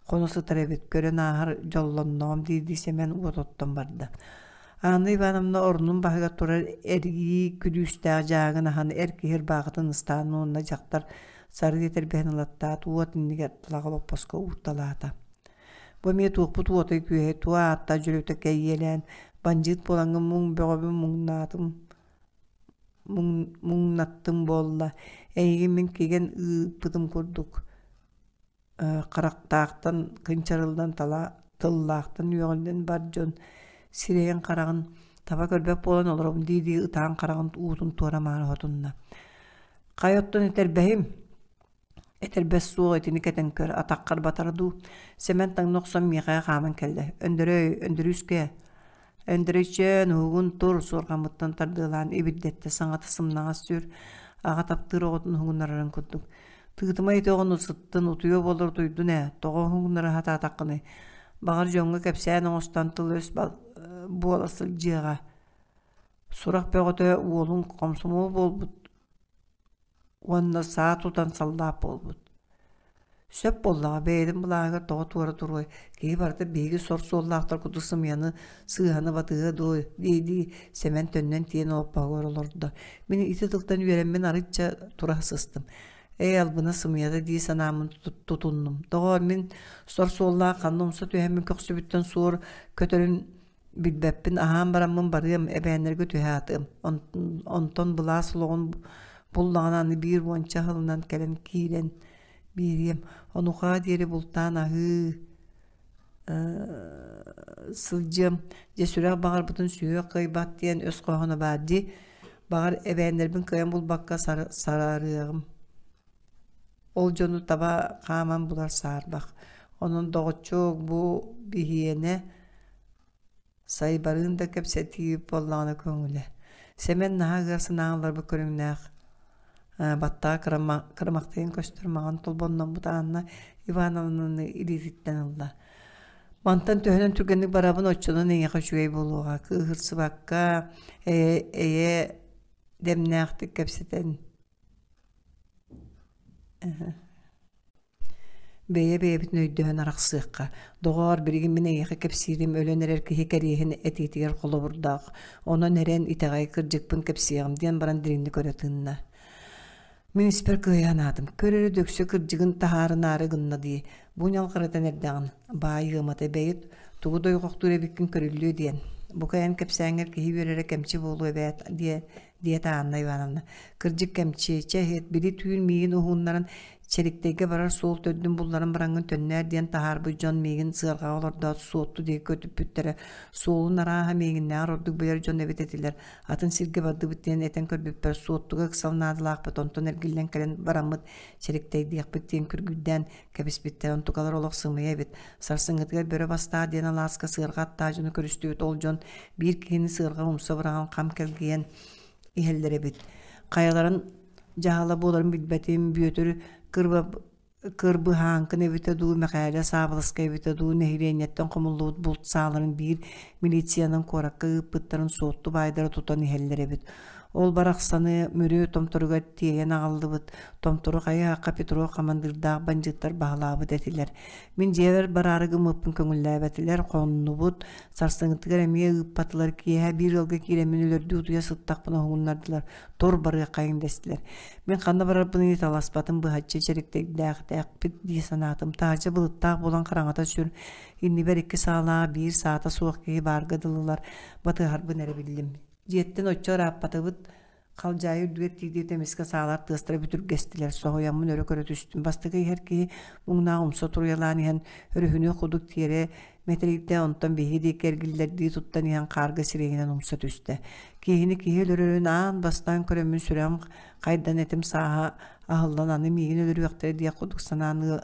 хоно сытар эбит, көрөн ааһар дьоллонноҕум диирдии Сэмэн уот оттон барда. Анна Ивановна орнун баһыгар турар эргии күлүүстээх дьааҥын аһан эр киһи ырбаахытын ыстаан уонна дьахтар Сарыы тэлбэһин ылаттаат уот иннигэр плаҕа боппоско уурталаата. Бу эмиэ туохпут уотай күөһэ туо аатта дьөлөтөккө иэлээн бандьыыт буолаҥҥын муҥ бөҕөбүн муҥнаатым муҥнаттым буолла эйигин мин кигэн ыыппытым курдук харахтаахтан кынчарыллан тала тыллаахтан үөҕүллэн бар дьон сирэйин-хараҕын таба көрбөт буолан олоробун дии-дии ытаан хараҕын уутун туора маары хотунна хайа оттон этэрбэһим этэрбэс суох итини кэтэн көр атаххар батара дуу сэмэн таҥна охсон миэхэҕэ хааман кэллэ өндөрөй өндөрүүскэ Өндөрөйчөөн уһугун тур суорҕаммыттан тардыалаан ибирдэттэ саҥата сымнаҕас сүр аҕа таптыыр оҕотун уһугуннарарын курдук. Тыытыма итоҕун усыттын утуйа болор дуйдун ээ тоҕо уһугуннара сатаатаххыный баҕар дьоҥҥо кэпсээн оҥостон тыл-өс буола сылдьыаҕа сурах бөҕөтө уолун хомсомуол буолбут уонна саа тутан саллаап буолбут. Сөп буоллаҕа, бэйэтин былааһыгар тоҕо туора туруой, киһи барыта биһиги сор суоллаахтар курдук сымыйаны сыыһаны батыһыа дуу дии-дии Сэмэн төннөн тиийэн олоппоһугар олордо. Мин ити тылтан үөрэммин арычча тура сыстым. Ээ, албына сымыйата дии санааммын тутуннум. Тоҕо мин сор суоллаах ханна умса түһэммин көхсүбүттэн суор көтөрүн Билбэппин аһаан бараммын барыам эбээннэргэ түһэ атыам. Онтон онтон былаас олоҕун буллаҕына аны биир уонча аһылынан кэлэн киирэн биэриэм. Онуоха диэри бултаан аһыы сылдьыам. Дьэ сүрэх баҕарбытын сүһүөх кыайбат диэн өс хоһооно баар дии. Баҕар эбээннэрбин кыайан булбакка сара сараарыаҕым. Ол дьону таба хааман булар саарбах. Онон доҕоччук бу гигиена сайбарын да кэпсэтии буоллаҕына көҥүлэ. Сэмэн наһаа ыар санааҕын ыларбыт көрүҥнээх баттаҕа кырымахтыйан көстөр маҕан толбонноммут Анна Ивановнаны илиититтэн ылла. Мантан төһөнөн түргэнник барабын оччонон эйиэхэ үчүгэй буолуоҕа. Кыыһырсыбакка, эйэ, эйэ дэмнээхтик кэпсэтэн Бэйэ бэйэбитин өйдөһөн арахсыахха. Доҕоор, билигин мин эйиэхэ кэпсиирим өлөн эрэр киһи кэриэһин этиитигэр холобурдаах. Онон эрэн итэҕэйи кырдьыкпын кэпсиэҕим, диэн баран дириҥник көрө тынна. Мин испэр кыайа санаатым, көр эрэ дөксө кырдьыгын таһаарынаары гынна дии. Бу ньалҕарытан эрдэҕин, баай ыамата эбэйит, тугу дойҕохтуур эбиккин көрүллүө диэн. Бука эн кэпсээҥҥэр киһи үөрэрэ кэмчи буолуо эбээт, диэ диэтэ Анна Ивановна. Кырдьык кэмчи, чэһит, били түүн миигин уһууннаран, Чэриктэйгэ барар суол төрдүн булларан бараҥҥын төннөөр диэн таһаарбыт дьон миигин сыарҕаҕа олордоот суотту диэки көтүппүттэрэ. Суолун арааһа миигиннээҕэр ордук билэр дьон эбит этилэр. Атын сиргэ бардыбыт диэн этэн көрбүппэр суоттуга ыксал наадалаахпыт онтон эргиллэн кэлэн бараммыт Чэриктэй диэхпит диэн күргүйдээн Кэбиспиттэр онтукалар олох сымыйа эбит. Сарсыҥҥытыгар бөрө бастаа диэн алааска сыарҕа аттаажыны көрүстүбүт ол дьон биир киһини сыарҕа умса быраҕан хам кэлгийэн иһэллэр эбит. Хайаларын дьаһала буоларын билбэтим, Бүөтүр кырба кырбыһааҥкын эбитэ дуу, Мэхээлэ саабыласка эбитэ дуу, нэһилиэнньэттэн хомуллубут булт сааларын биир милициянан куоракка ыыппыттарын суотту баайдара тутан иһэллэр эбит. Ол барахсаны Мүрү Томторугар тиэйэн аҕаллыбыт. Томтору хайаахха Петров хамандыырдаах бандьыттар баһылаабыт этилэр. Мин дьиэбэр бараары гыммыппын көҥүллээбэтилэр, хоннубут. Сарсыҥҥытыгар эмиэ ыыппатылар. Киэһэ биир ыалга киирэммин өлөрдүү утуйа сыттахпын оһугуннардылар. Тор барыаххайыҥ дэстилэр. Мин ханна барарбын ыйыталаспатым быһаччы чэриктэйдээхтээхпит дии санаатым. Таһырдьа былыттаах буолан хараҥата сүр. Иннибэр икки саалаҕа биир саата суох киһи баарга дылылар. Батыһарбын эрэ биллим. Дьиэттэн оччо ырааппатыбыт, халдьаайы үрдүгэр тиийдиэт эмискэ саалар тыастара бүтүргэстилэр. Соһуйаммын өрө көрө түстүм. Бастакы иһэр киһи муҥнаах умса туруйалаан иһэн, өрүһүнүөх кудук тиэрэ мэтэрийдэ, онтон биһиги диэки эргиллэрдии туттан иһэн хаарга сирэйинэн умса түстэ. Киһини киһи өлөрөрүн аан бастаан көрөммүн сүрэҕим хайдан этим сааһа аһыллан аны миигин өлөрүөхтэрэ диэх кудук санаан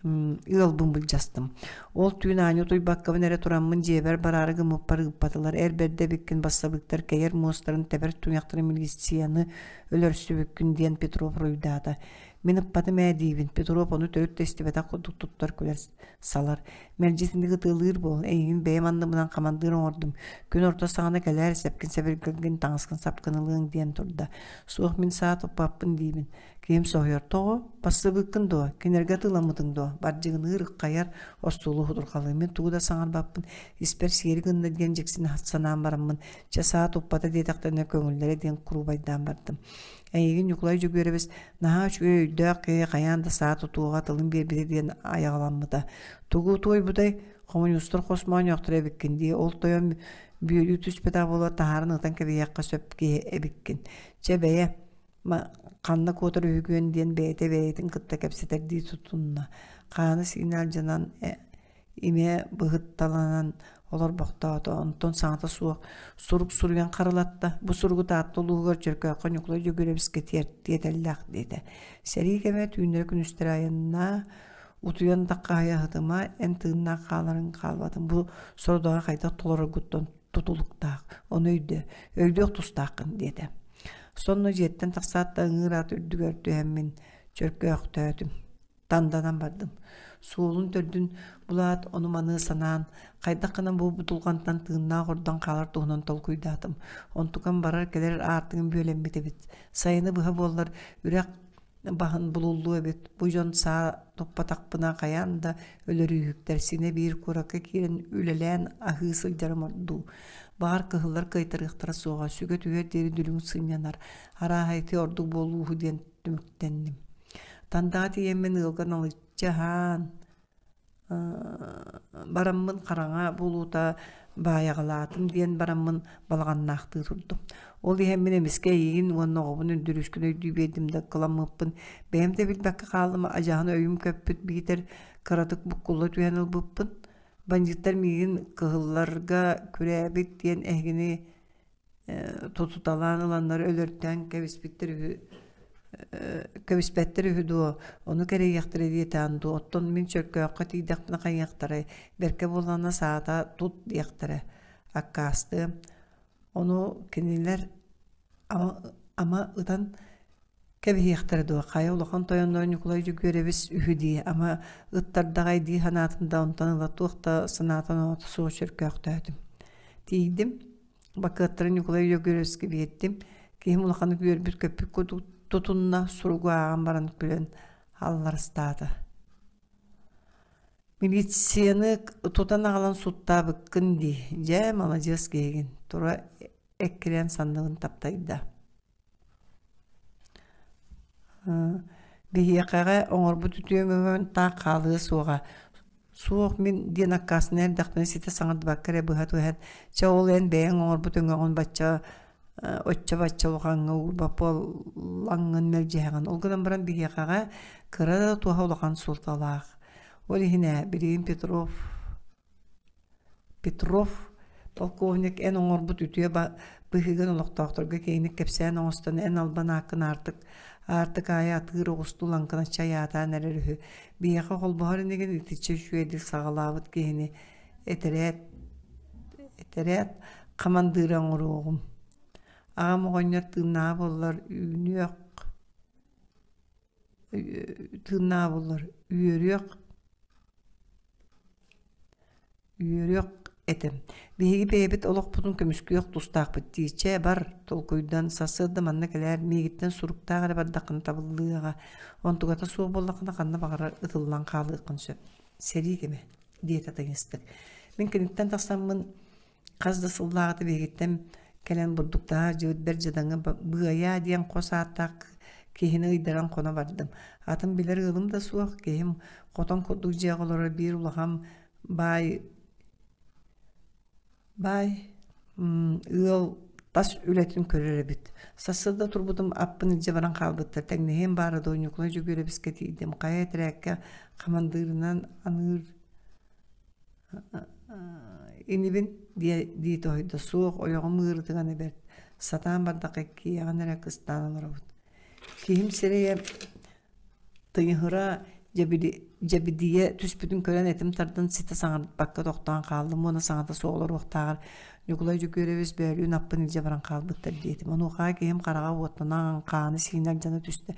ыалбын былдьастым. Ол түүн аанньа утуйбаккабын эрэ тураммын дьиэбэр бараары гыммыппар ыыппатылар. Эр бэрдэ эбиккин бассабыктар кэйэр муостарын тэбэр туйахтарын милицианы өлөрсүбүккүн диэн Петров руйдаата. Мин ыппатым ээ диибин. Петров ону төрүт да истибэтэх курдук туттар күлэр салар. Мэлдьи итинник ытыалыыр буол. Эйигин бэйэм анныбынан хамандыыр оҥордум. Күн орто саҕана кэлээр сэпкин сэбиргэлгин таҥаскын сапкын ылыаҥ диэн турда. Суох мин саа туппаппын диибин. Киэм соһуйортоҕо, «Бассабыыккын дуо? Кинилэргэ атыыламмытыҥ дуо? Бардьыгыныы ырыххайар, остуолу хутурҕалыыммын тугу да саҥарбаппын, испэр сиэри гынна» диэн дьиксин санаан бараммын, чэ саа туппата диэтэхтэринэ көҥүллэрэ диэн куруубайдаан бардым. Эйигин Ньукулай Дьөгүөрэбис наһаа үчүгэй өйдөөх киһи хайаан да саа тутуоҕа тылын биэрбитэ диэн айаҕаламмыта. Тугу туойбутай? Хомуньуустар хос моонньоохтор эбиккин дии, ол тойон бүөлүү түспэтэх буолуо таһааран ытан кэбиһиэххэ сөп киһи эбиккин. Чэ бэйэ, ханна куотар үһүгүөн диэн бэйэтэ бэйэтин кытта кэпсэтэрдии тутунна хаана сиинэ алдьанан имэ быһытталанан олорбохтоото онтон саҥата суох сурук суруйан харалатта бу суругу таатта улууһугар дьөркөөххө ньукулай дьөгүрэбискэ тиэтэллээх диэтэ сэрии кэмэ түүннэри күнүстэрэ айаннаа утуйан тахха аһыма эн тыыннаах хааларын хаалбатын бу сорудоҕа хайдах толороргуттан тутулуктаах. Ону өйдө, өйдүөх тустааххын диэтэ. Сонно дьиэттэн тахсаат да ыҥыыр аат үрдүгэр түһэммин чөркөөхтөөтүм. Танданан бардым. Суолун төрдүн булаат, ону маны санаан, хайдах гына бу бутулҕантан тыыннаах ордон хаалар туһунан толкуйдаатым. Онтукам барар-кэлэр аартыгым бүөлэммит эбит. Сайыны быһа буоллар үрэх баһын булуллу эбит бу дьон саа туппатахпына хайаан да өлөрүүһүктэр синэ биир куракка киирэн үлэлээн аһыы сылдьарым ордуу баар кыһыллар кыайтарыахтара суоҕа сүгэ түһэр диэри дүлүҥ сынньанар арааһайты ордук буолууһу диэн түмүктэнним тандаа тиийэммин ыалга налыччы аһаан Бараммын хараҥа булуута баайаҕалаатым диэн бараммын балаҕаннаахтыы турдум. Ол иһэн мин эмискэ эйиигин уонна оҕобун өндөрүүскүн өйдүү биэрдим да ыккыламмыппын бэйэм да билбэккэ хааллым адьааһын өйүм көппүт биитэр кыратык буккулла түһэн ылбыппын бандьыыттар миигин кыһылларга күрээбит диэн эһигини тутуталаан ыланнар өлөртөн кэбиспиттэр үһү кэбиспэттэр үһү дуо ону кэрийиэхтэрэ диэтаан дуу оттон мин чөркөөххө тиийдэхпинэ хайыахтарай бэркэ буоллаҕына саата тут диэхтэрэ аккаастыам ону кинилэр ама ытан кэбиһиэхтэрэ дуо хайа улахан тойоннору ньукулай дьүгүөрэбис үһү дии ама ыттардаҕай дии санаатын да онтон ыла туох да санаатын оҥото суох чөркөөхтөөтүм тиийдим Бакыаттары Ньукулай Өлөгүрөскө биэрдим. Киһим улаханнык үөрбүт көппүк кудуу тутунна, суругу ааҕан баран күлэн алларыстаата. Милицияны тутан аҕалан суттаабыккын дии. Дьэ, маладьыас киһигин. Тура эккирээн санныгын таптайда. Биһиэхэҕэ оҥорбут үтүөмүмүн таах хаалыа суоҕа. Суох мин диэн аккаастанан эрдэхпинэ ситэ саҥардыбакка эрэ быһа туһэн чэ ол эн бэйэҥ оҥорбут өҥөҕүн бачча оччо-бачча улахаҥҥа уурбат буоллаҥҥын мэлдьэһэҕин. Ол гынан баран биһиэхэҕэ кыра да туһа улахан суолталаах. Ол иһин ээ билигин Петров Петров полковник эн оҥорбут үтүө быһыыгын олохтоохторго киэҥник кэпсээн оҥостон эн албан ааккын аартык аартык аайы атыыр оҕустуу лаҥкынас чай аатаан эрэр үһү биһиэхэ холбоһор инигин итиччэ үчүгэй дил саҕалаабыт киһини этэрээт этэрээт хамандыыра оҥоруоҕум аҕам оҕонньор тыыннааҕа буоллар үүнүөх тыыннаабыллар үөрүөх үөрүөх этим биһиги бэйэбит олохпутун көмүскүөх тустаахпыт дии чэ бар толкуйдан сарсыарда манна кэлээр миигиттэн суруктаах эрэ бардаххына табыллыаҕа онтугата суох буоллаххына ханна баҕарар ытыллан хаалыаххын сөп сэрии кэмэ диэтэ таҥастык мин киниттэн тахсаммын Хас да сыллааҕыта биһигиттэн кэлэн бурдуктааһар дьөгүрдэр дьадаҥы «Быайаа» диэн хос ааттаах киһини ыйдаран хоно бардым. Атын билэр ыалым да суох, киһим хотон курдук дьиэҕэ олорор биир улахан баай баай ыал тас үлэтин көрөр эбит. Сарсыарда турбутум аппын илдьэ баран хаалбыттар. Тэҥнэһиэм баара да Ойуунньукунай Дьөгүөрэбискэ тиийдим. Хайа этэрээккэ хамандыырынан аныыр инибин диэ дии тоһойдо суох ойоҕум ыырытыгана бэрт сатаан бардахха иккиэҕин эрэ кыстаан олоробут киһим сирэйэ тыйыһыра дьэбидийэ түспүтүн көрөн этим тардан ситэ саҥарбакка тохтоон хааллым уонна саҥата суох олоруохтааҕар ньукулай дьөгүөрэбис бөөлүүн аппын илдьэ баран хаалбыттар диэтим онуоха киһим хараҕа уоттанан хааны сиинэр дьана түстэ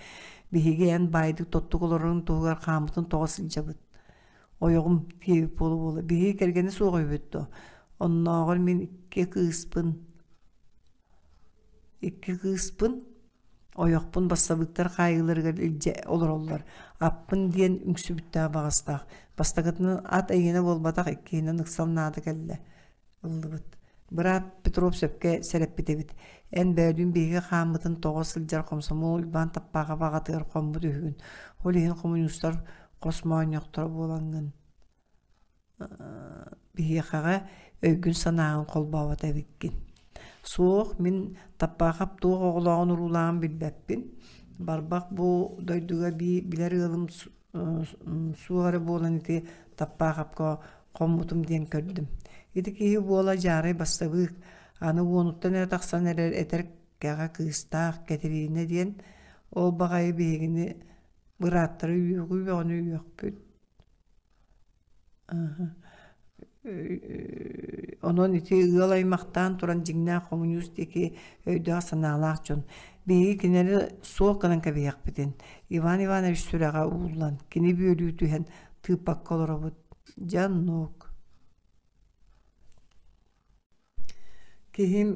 биһиги эн баайдык тоттук олорорун туһугар хааммытын тоҕо сылдьабыт ойоҕум феопола буола биһиги кэргэнэ суох үһүбүт дуо оннооҕор мин икки кыыспын икки кыыспын ойохпун бассабыыктар хаайыыларыгар илдьэ олороллор аппын диэн үҥсүбүттээх баҕастаах бастакытынан ат эйиэнэ буолбатах иккиһинэн ыксал наада кэллэ ыллыбыт. Быраап Петров сөпкө сэрэппит эбит. Эн бөөдүүн биһиги хааммытын тоҕо сылдьар хомсомуол Уйбаан Таппаахап аҕатыгар хоммут үһүгүн. Ол иһин хомуньуустар хос моонньохторо буолаҥҥын. Биһиэхэҕэ өйгүн-санааҕын холбообот эбиккин. Суох, мин Таппаахап туох оҕолооҕун уруулааҕын билбэппин. Барбах бу дойдуга бии билэр ыалым суоһара буолан ити Таппаахапка хоммутум диэн көрдүм. Ити киһи буола дьаарай бастабыык. Аны уонуттан эрэ тахсан эрэр этэр кэҕэ кыыстаах Кэтириинэ диэн ол баҕайы биһигини бырааттара үөхүү бөҕөнү үөхпүт. Онон ити ыал аймахтаан туран дьиҥнээх хомуньуус диэки өйдөөх-санаалаах дьон. Биһиги кинини суол гынан кэбиһиэхпитин Иван Иванович сүрэҕэ ууллан кини бүөлүү түһэн тыыппакка олоробут. Дьэ оннук. Киһим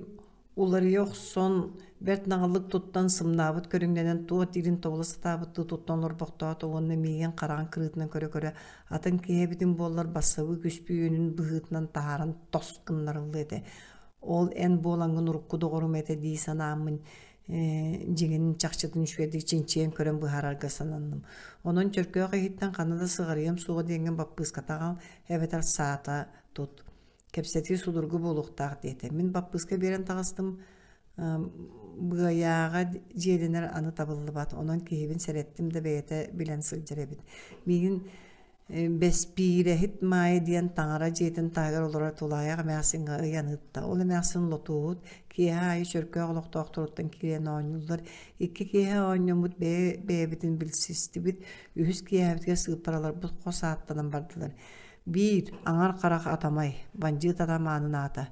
уларыйа охсон, бэрт наҕылык туттан сымнаабыт көрүҥнэнэн туох диирин тобула сатаабыттыы туттан олорбохтоото уонна миигин хараҕын кырыытынан көрө-көрө атын киһи эбитин буоллар бассабыы күспүт үөнүн быһыытынан таһааран тос гыннарылла этэ. Ол эн буолаҥҥын урукку доҕорум этэ дии санааммын дьиҥин чахчытын үчүгэйдик чинчийэн көрөн быһаарарга сананным. Онон чөркөөх иһиттэн ханна да сыҕарыйыам суоҕа диэҥҥин баппыыската аҕал эбэтэр саата тут кэпсэтии судургу буолуохтаах диэтэ мин баппыыска биэрэн таҕыстым быайааҕа дьиэлэнэр аны табыллыбат онон киһибин сэрэттим да бэйэтэ билэн сылдьар эбит миигин бэспиирэһит маайа диэн таҥара дьиэтин таһыгар олорор тулаайах эмээхсиҥҥэ ыйан ыытта ол эмээхсин лотууһут киэһэ аайы чөркөөх олохтоохторуттан киирэн оонньууллар икки киэһэ оонньоммут бэйэ бэйэбитин билсистибит үһүс киэһэбитигэр сыыппараларбыт хос ааттанан бардылар Биир аҥар харах атамай бандьыыт атамаанын аата,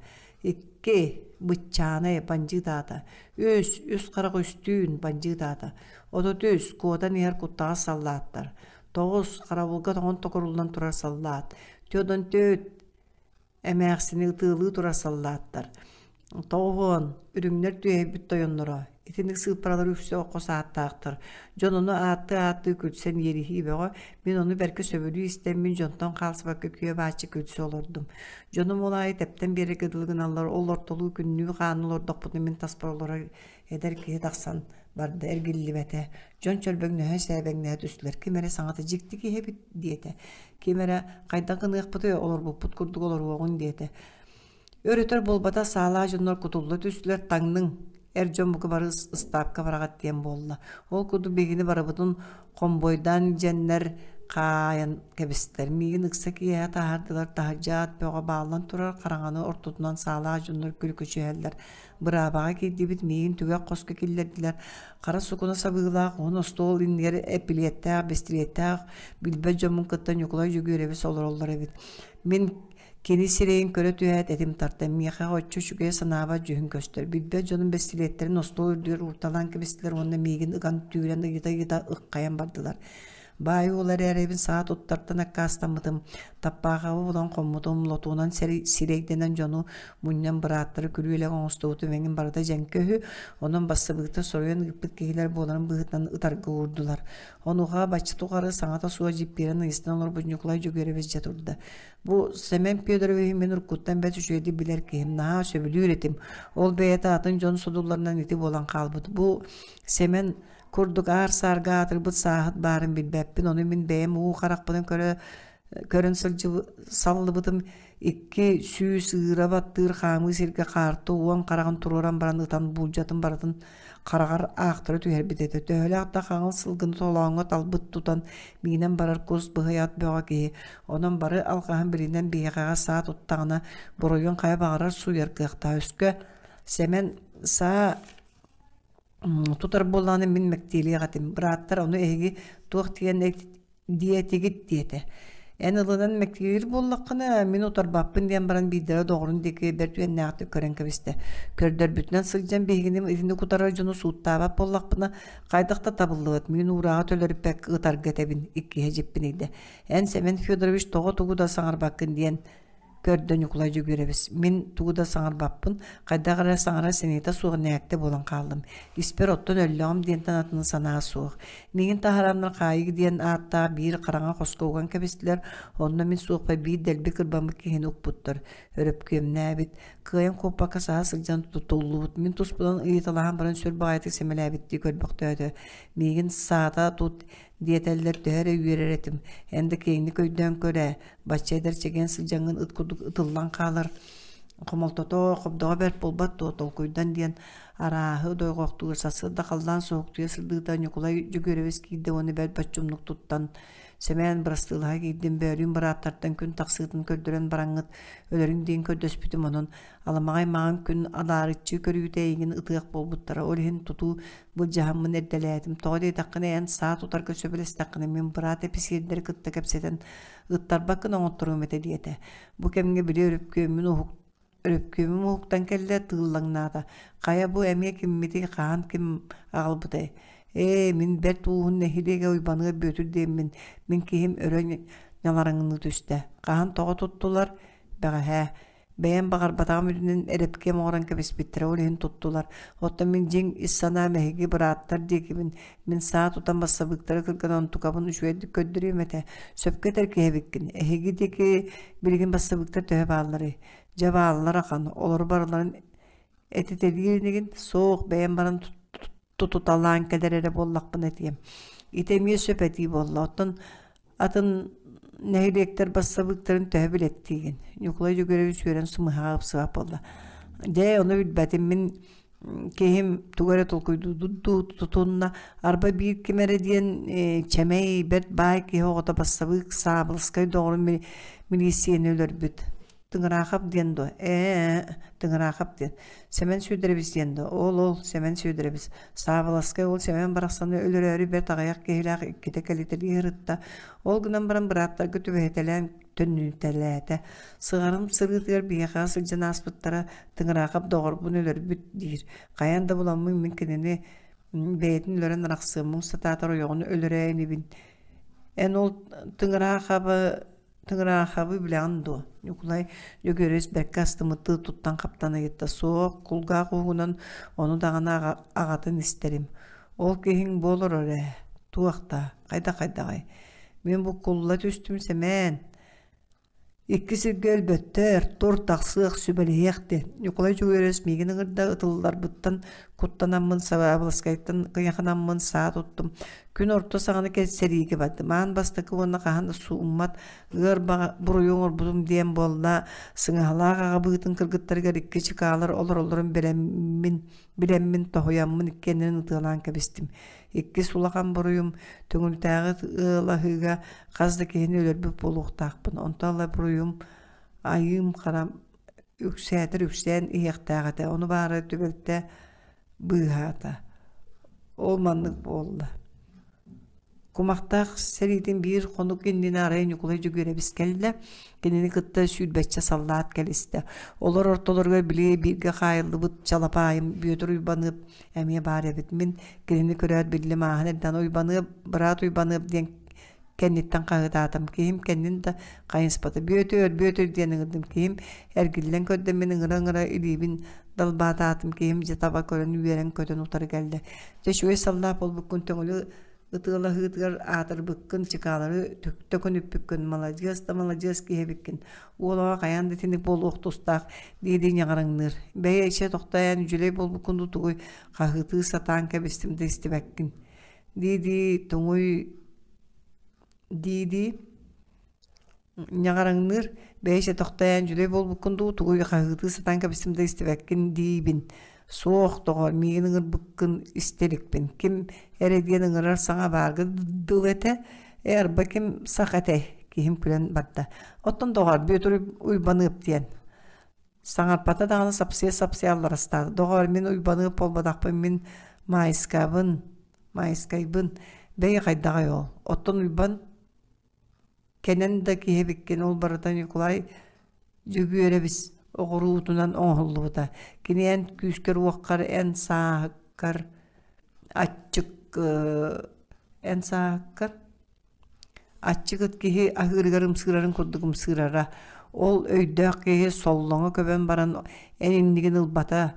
икки быччаанай бандьыыт аата, үс үс харах үстүүн бандьыыт аата, отутус куотан иһэр куттаҕас саллааттар, тоҕус харабылга тоҥон токуруллан турар саллаат, төрт он төрт эмээхсини ытыалыы турар саллааттар, Тоҕуон, үрүҥнэр түөһэйбит тойонноро, итинник сыыппаралар үксэ окко сааттаахтар. Дьон ону ааттыы-ааттыы күлсэн иэриһии бөҕө, мин ону бэркэ сөбүлүү истэммин дьонтон хаалсыбакка күө-бааччы күлсэ олордум. Дьонум ол аайы тэптэн биэрэргэ дылы гыналлар, ол ортолуу күннүү-хаанныы олордохпутуна мин таспар олорор эдэр киһи тахсан барда эргиллибэтэ. Дьон чөрбөҥнөһө сээбэҥнэһэ түстүлэр. Ким эрэ саҥата дьикти киһи эбит диэтэ. Ким эрэ хайдах гыныахпытый олорбуппут курдук олоруоҕун диэтэ. Өр-өтөр буолбата саалаа дьоннор кутулла түстүлэр таҥныҥ, эр дьон бука бары ыстаапка бараҕат диэн буолла. Ол курдук бигини барыбытын хомбойдаан дьэннэр хаайан кэбистэр. Миигин ыкса киэһэ таһаардылар таһырдьаат бөҕө бааллан турар хараҥаны ортотунан саалаа дьоннор күлүкүчүһэллэр. Быраабаҕа киирдибит миигин түгэх хоско киллэрдилэр. Хара сукуна сабыылаах уһун остуол иннигэр эпилиэттээх, бистилиэттээх билбэт дьоммун кытта Ньукулай Дьөгүөрэбис олороллор эбит. Мин Кини сирэйин көрө түһээт этим тарта, миэхэҕэ оччо үчүгэй санаабат дьүһүн көстөр. Билбэт дьонум бэстилиэттэрин остуол үрдүгэр уурталаан кэбистилэр уонна миигин ыган түүрэн ыйыта-ыйыта ыккайан бардылар. Баай ол эрээри эбин саа туттартан аккаастаммытым, таппаахабы булан хоммутум, лотуунан сирэйдэнэн дьону мунньан бырааттары күрүөлэк оҥостубутум эҥин барыта дьэҥкэ үһү, онон бассабыыктар соруйан ыыппыт киһилэр буоларын быһыытынан ытарга уурдулар. Онуоха бачча тухары саҥата суох дьиппиэрэн ыйыстан олорбут Ньукулай Дьөгүөрэбис дьэ турда. Бу Семен Федорович мин уруккуттан бэс үчүгэйдик билэр киһим, наһаа сөбүлүүр этим. Ол бэйэтэ атын дьон содулларынан ити буолан хаалбыт. Бу Семен курдук аар-саарга аатырбыт сааһыт баарын билбэппин. Ону мин бэйэм уу харахпынан көрө көрөн сылдьыб саллыбытым икки сүүс ыыра баттыыр хаамыы сиргэ хаарты уон хараҕын туруоран баран ытан буулдьатын барытын хараҕар аахтара түһэрбит этэ төһөлөөх да хаҥыл сылгыны толооҥҥо талбыт тутан миинэн барар кус быһыйаат бөҕө киһи онон бары алҕаһын билинэн биһиэхэҕэ саа туттаҕына буруйун хайа баҕарар сууйар кыахтаах өскө сэмэн саа тутар буоллаҕына мин мэктиэлиэх этим бырааттар ону эһиги туох тиийэн диэтигит диэтэ эн ылынан мэктиэлиир буоллаххына мин утарбаппын диэн баран биирдэрэ доҕорун диэки бэрт үөннээхтик көрөн кэбистэ көрдөрбүтүнэн сылдьан биһигини итинник утары дьону сууттаабат буоллахпына хайдах да табыллыбат мин уурааҕы төлөрүппэк ытарга этэбин иккиһэ дьиппинийдэ эн сэмэн федорович тоҕо тугу да саҥарбаккын диэн көрдө Ньукулай Дьөгүөрэбис мин тугу да саҥарбаппын хайдах эрэ саҥара сыныйта суох нээктэ буолан хааллым испэр оттон өллөҕүм диэнтэн атын санаа суох миигин таһараннар хаайыг диэн ааттаах биир хараҥа хоско уган кэбистилэр онно мин суохпа биир дэлби кырбаммыт киһини укпуттар өрөпкүөмнээбит кыайан куоппакка саһа сылдьан тутуллубут мин туспутун ыйыталаһан баран сүр баҕайытык сэмэлээбиттии көрбөхтөөтө миигин саата тут диэтэллэр төһө эрэ үөрэр этим эн да киэҥник өйдөөн көр ээ бачча эдэр чэгиэн сыдьаҥҥын ыт курдук ытыллан хаалар хомолтото хобдоҕо бэрт буолбат дуо толкуйдан диэн арааһы дойҕохтуур сарсыарда халлаан суохтуйа сырдыыта ньукулай Дьөгүрэбис киирдэ уонна бэрт боччумнук туттан Сэмээн бырастыылаһа киирдим бөөрүүн бырааттартан күн тахсыытын көрдөрөн бараҥҥыт өлөрүҥ диэн көрдөспүтүм онон аламаҕай маҥан күн адаарыччы көрүүтэ эйигин ытыах буолбуттара ол иһин тутуу былдьаһаммын эрдэлээтим тоҕо диэтэххинэ эн саа тутарга сөбүлэстэххинэ мин быраат эписиэрдэри кытта кэпсэтэн ыттарбаккын оҥотторуом этэ диэтэ бу кэмҥэ били өрөпкүөммүн уһук өрөпкүөмүм уһуктан кэллэ тыыллаҥнаата хайа бу эмиэ киммитий хаһан ким аҕалбытай ээ мин бэрт ууһун нэһилиэгэ уйбаныа бүөтүр диэммин мин киһим өрө ньалараҥныы түстэ хаһан тоҕо туттулар бэҕэһээ бэйэм баҕарбатаҕым үрүнэн эрэпкиэм оҥорон кэбиспиттэрэ ол иһин туттулар оттон мин дьиҥ ис санаа мэһиги бырааттар диэкибин мин саа тутан бассабыыктары кырган онтукабын үчүгэйдик көрдөрүөм этэ сөпкө этэр киһибиккин эһиги диэки билигин бассабыыктар төһө баалларый дьэ бааллар ахан олору барыларын этитэлиир инигин суох бэйэм баран тутуталаан кэлэр эрэ буоллахпына этиэм ити эмиэ сөп этии буолла оттон атын нэһилиэктэр бассабыыктарын төһө билэттиигин ньукулай дьөгүрэвич үөрэн сымыһаҕа ыпсыбат буолла дьэ ону билбэтим мин киһим тугу эрэ толкуйдуу тутунна арба биир ким эрэ диэн чэмэй бэрт баай киһи оҕото бассабыык саабылыскай доҕорун милииссийэни өлөрбүт Тыҥыраахап диэн дуо? Ээ, Тыҥыраахап диэн. Сэмэн Сүөдэрэбис диэн дуо? Ол ол Сэмэн Сүөдэрэбис. Саабыласкай ол Сэмэн барахсаны өлөрөөрү бэрт аҕыйах киһилээх иккитэ кэлитэлии ырытта. Ол гынан баран бырааптарга түбэһитэлээн төннүүтэлээтэ. Сыҕарым сырыытыгар биһиэхэ сылдьан ааспыттара Тыҥыраахап доҕорбун өлөрбүт диир. Хайаан да буламмын мин кинини бэйэтин өлөрөн арахсыаммын сатаатар ойоҕун өлөрөө инибин. Эн ол Тыҥыраахабы Тыгыраахабы билэҕин дуо? Ньукулай Дьөгүөрүс бэркэ астымыттыы туттан хаптан ыйытта. Суох, кулгаах уһугунан ону даҕаны аҕатын истэрим. Ол киһиҥ бу олорор ээ. Туохта? Хайда хайдаҕай? Мин бу кулла түстүм сэмээн. Икки сиргэ өлбөттөр, тур тахсыах, сүбэлэһиэх диэн. Ньукулай Дьөгүөрүс миигин ыҥырда ытылларбыттан куттанаммын Саваабыласкайтан кыйаханаммын саа туттум күн орто саҕана сэлиигэ бардым маан бастакы уонна хаһан да сууммат ыар баҕа буруйу оҥорбутум диэн буолла сыҥаһалаах аҕабыытын кыргыттарыгар икки чыкаалар олороллорун билэммин билэммин тоһуйаммын иккиэннэрин ытыалаан кэбистим иккис улахан буруйум төҥүлтээҕи ыалаһыыга хас да киһини өлөрбүт буолуохтаахпын онтон ыла буруйум айыым хара үксээтэр үксээн иһиэхтээх этэ ону баара түбэлтэ быыһаата ол маннык буолла кумахтаах сэриитин биир хонук иннинэ арай ньукулай дьүгүрэбис кэллэ кинини кытта сүүрбэччэ саллаат кэлистэ олор ортолоругар били бииргэ хаайыллыбыт чалапаайым бүөтүр уйбаныап эмиэ баар эбит мин кинини көрөөт биллим ааһан эрдэн уйбаныап быраат уйбаныап диэн кэнниттэн хаһыытаатым киһим кэннин да хайыспата бүөтүөр бүөтүөр диэн ыҥырдым киһим эргиллэн көрдө мин ыҥыра ыҥыра илиибин далбаатаатым киһим дьэ таба көрөн үөрэн көтөн утары кэллэ дьэ үчүгэй саллаат буолбуккун төҥүлү ытыалаһыытыгар аатырбыккын чыкаалары төктө көнүппүккүн маладьыас да маладьыас киһибиккин уолаҕа хайаан да итинник буолуох тустаах дии-дии ньаҕарыҥныыр бэйэ ичэ тохтоойоон үдьүлэй буолбуккун тутугуй хаһыытыы сатаан кэбистим да истибэккин дии-дии туҥуй дии-дии ньаҕараҥныыр бэйэ тохтоон дьүлэй буолбуккун дуу тугуй хаһыытыы сатаан кэбистим да истибэккин диибин суох доҕор миигин ыҥырбыккын истэ иликпин ким эрэ диэн ыҥырар саҥа баарга дылы этэ ээ арба ким сах этэй киһим күлэн барда оттон доҕор бүөтүр уйбаныап диэн Саҥарбата даҕаны сапсыйа-сапсыйа алларастаата. «Доҕоор, мин Уйбаныап буолбатахпын, мин Маайскабын, Маайскайбын, бэйи хайдаҕай ол? Оттон Уйбан кэнэн да киһибиккин, ол барыта Ньукулай Дьөгүөрэбис оҕуруутунан оҥоһуллубута. Кини эн күүскэр-уоххар, эн сааһыккар, аччык, эн сааһыккар Аччыгыт киһи аһыырыгар ымсыырарын курдук ымсыырара. Ол өйдөөх киһи соллоҥо көбөн баран эн иннигин ылбата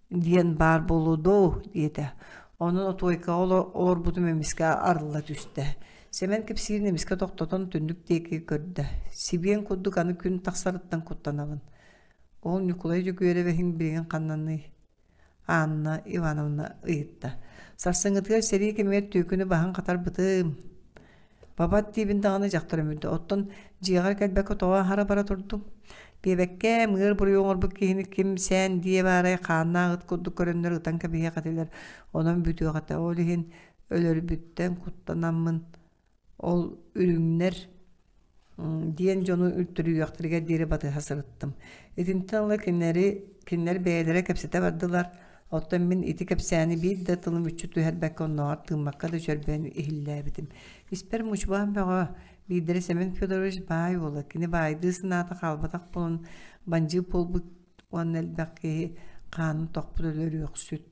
диэн баар буолуо дуу диэтэ. Онон отуойкаҕа олорбутум эмискэ арылла түстэ. Сэмэн кэпсиирин эмискэ тохтотон түннүк диэки көрдө. Сибиэн курдук аны күн тахсарыттан куттанабын. Ол Ньукулай Дьөгүөрэбэһиҥ билигин ханнаный? Анна Ивановна ыйытта. Сарсыҥҥытыгар сэрии кэмигэр түөкүнү баһан хатарбытым. Бабат диибин даҕаны дьахтар өмүрдэ. Оттон дьиэҕэр кэлбэккэ тоҕо аһара бара турдум. Биэбэккэ мыгыр буруйу оҥорбут киһини ким сээн диэ баарай хааннаах ыт курдук көрөннөр ытан кэбиһиэх этилэр. Онон бүтүөх этэ. Ол иһин өлөрбүттэн куттанаммын ол үрүҥнэр диэн дьону үлтүрүйүөхтэригэр диэри батыһа сырыттым. Итинтэн ыла кинилэри кинилэр бэйэлэрэ кэпсэтэ бардылар. Оттон мин ити кэпсээни биир да тылым мүччү түһэрбэккэ оннооҕор тыыммакка да чөрбөөн иһиллээбитим. Испэр мучубаан бөҕө биирдэрэ Семен Федорович баай уола кини баайдыы санаата хаалбатах буолан бандьыып буолбут уонна элбэх киһи хаанын тохпут өлөрүөхсүт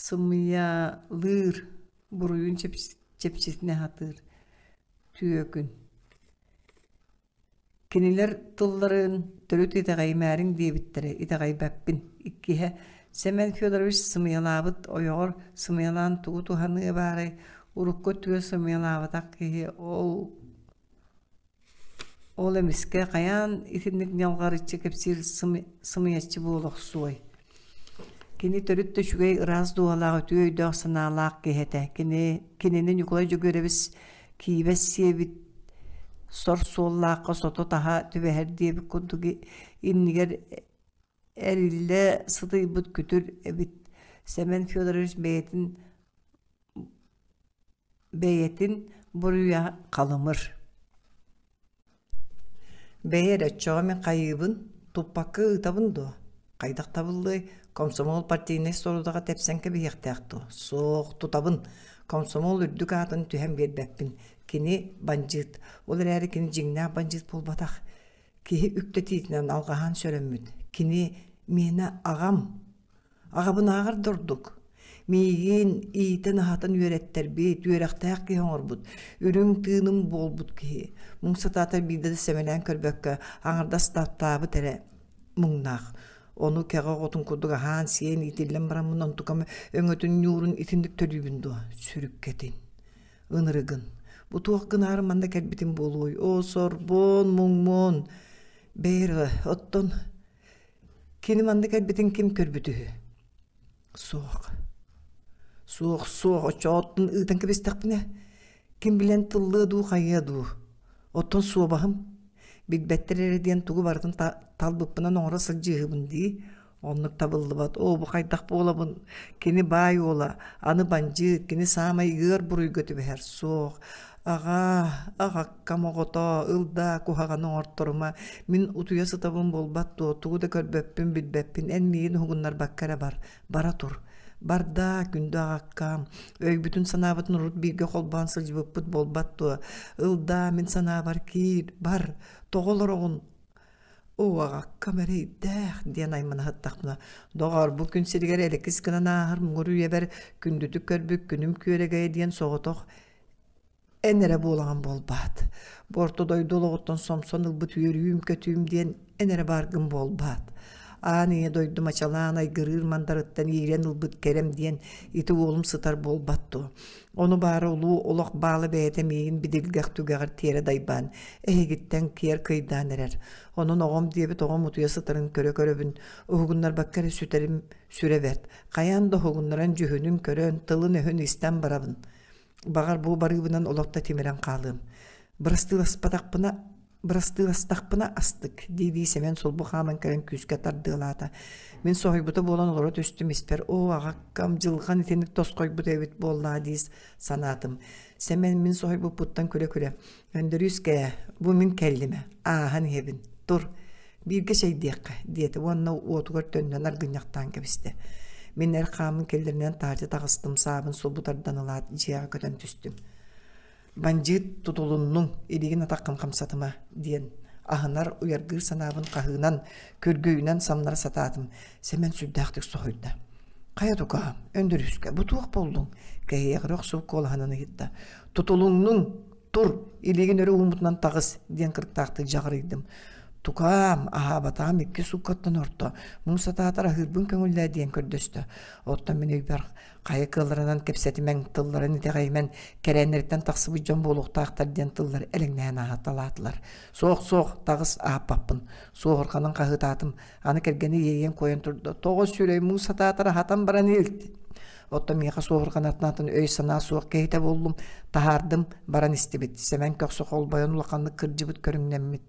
Сымыйалыыр, буруйун чэпчэтинэ сатыыр, түөкүн. Кинилэр тылларын төрүт итэҕэйимээриҥ диэбиттэрэ итэҕэйбэппин. Иккиһэ, Сэмэн Федорович сымыйалаабыт ойоҕор сымыйалаан тугу туһаныа баарай, урукку үтүө сымыйалаабатах киһи ол Ол эмискэ хайаан итинник ньалҕарыччы кэпсиир сымыйаччы буола охсуой? Кини төрүт да үчүгэй ыраас дууһалаах, үтүө өйдөөх-санаалаах киһи этэ. Кини кинини Ньукулай Дьөгүөрэбис киибэс сиэбит сор суоллаахха сото-таһа түбэһэр диэбит курдук иннигэр эриллэ сытыйбыт күтүр эбит Сэмэн Федорович бэйэтин бэйэтин буруйа халымыр бэйи эрэ оччоҕо мин хайыыбын туппакка ыытабын дуо хайдах табыллыай комсомол партийнай сорудаҕа тэпсэн кэбиһиэхтээх дуо суох тутабын комсомол үрдүк аатын түһэн биэрбэппин кини бандьыыт ол эрээри кини дьиҥнээх бандьыыт буолбатах киһи үктэтиитинэн алҕаһан сөрөммүн кини миэнэ аҕам аҕабынааҕар да ордук миигин иитэн-аһатан үөрэттэрбит үөрэхтээх киһи оҥорбут үрүҥ тыыным буолбут киһи муҥ сатаата биирдэ да сэмэлээн көрбөккө аҥардас таптаабыт эрэ муҥнаах ону кэҕэ оҕотун курдук аһаан сиэн иитиллэн баран мунан тукам өҥөтүн ньуурун итинник төлүүбүн дуо сүрүккэтин ынырыгын бу туох гынаары манна кэлбитим буолуой оо сорбон муҥмун бэйрэ оттон кини манна кэлбитин ким көрбүт үһү суох суох суох оччооттон ыытан кэбистэхпинэ ким билэн тыллыа дуу хайыа дуу оттон суобаһым билбэттэр эрэ диэн тугу барытын талбыппынан оҥоро сылдьыыһыбын дии Оннук табыллыбат. Оо, бу хайдах буолабын? Кини баай уола, аны бандьыыт, кини саамай ыар буруйга түбэһэр. Суох. Аҕаа, аҕаккам оҕотоо, ылдаа куһаҕаны оҥорторума. Мин утуйа сытабын буолбат дуо, тугу да көрбөппүн, билбэппин, эн миигин уһугуннарбакка эрэ бар. Бара тур. Бардаа, күндү аҕаккаам, өйбүтүн-санаабытын урут бииргэ холбоон сылдьыбыппыт буолбат дуо? Ылдаа, мин санаабар киир, бар. Тоҕо олороҕун? Уоҕаккам эрэйдээх диэн аймана сыттахпына, доҕоор, бу күн сиригэр элэкис гынан aaһар муҥур үйэбэр күндүтүк көрбүт күнүм күөрэгэйэ диэн соҕотох эн эрэ буолаҕын буолбаат, бу орто дойду олоҕуттан сомсон ылбыт үөрүүм-көтүүм диэн эн эрэ бааргын буолбаат, аан ийэ дойду мачалаан айгырыыр мандарыттан иирэн ылбыт кэрэм диэн ити уолум сытар буолбат дуо Ону баара улуу олох баала бэйэтэ миигин бидилгэх түгэҕэр тиэрэ дайбаан, эһигиттэн киэр кыйдаан эрэр. Онон оҕом диэбит оҕом утуйа сытарын көрө-көрөбүн, уһугуннарбакка эрэ сүтэрим сүрэ бэрт. Хайаан да уһугуннаран дьүһүнүн көрөн, тылын-өһүн истэн барабын. Баҕар бу барыыбынан олох да тимирэн хаалыам. Бырастыыласпатахпына Бырастыыластахпына астык, дии-дии Сэмэн сулбу хааман кэлэн күүскэ тардыалаата. Мин соһуйбута буолан олоро түстүм испэр оо аҕаккам дьылҕан итинник тосхойбут эбит буоллаа дии санаатым. Сэмэн мин соһуйбуппуттан күлэ-күлэ Өндөрүүскээ, бу мин кэллимэ, ааһан иһэбин. Тур, бииргэ чэйдиэххэ, диэтэ уонна уотугар төннөн аргынньахтаан кэбистэ. Мин эр хаамын кэллэринэн таһырдьа таҕыстым, саабын сулбу тардан ылаат, дьиэҕэ көтөн түстүм. бандьыыт тутулуннуҥ илигин атаххын хамсатыма диэн аһынар уйаргыыр санаабын хаһыынан көргөйүнэн самнара сатаатым сэмэн сүрдээхтик соһуйда хайа тукаам өндөрүскэ бу туох болдуҥ кэһиэҕирэ охсубут куолаһынан ыйытта тутулуҥнуҥ тур илигин өрө ууммутунан таҕыс диэн кырыктаахтык дьаҕарыйдым тукаам аһаабатаҕым икки сууккаттан орто муҥ сатаатар аһыырбын көҥүллээ диэн көрдөстө оттон мин өйбөр хайа кыалларынан кэпсэтимэҥ тылларын итэҕэйимэн кэрээннэриттэн тахсыбыт дьон буолуохтаахтар диэн тыллар элэҥнээн аһаталаатылар суох-суох таҕыс аһаппаппын суоһурҕанын хаһыытаатым аны кэргэни иэйэн куойан турда тоҕо сүрэй муус сатаатар аһатан баран илт оттон миэхэ суоһурҕанатнаатын өй-санаа суох киһитэ буоллум таһаардым баран истибит сэмэн көхсө холбойон улаханнык кырдьыбыт көрүҥнэммит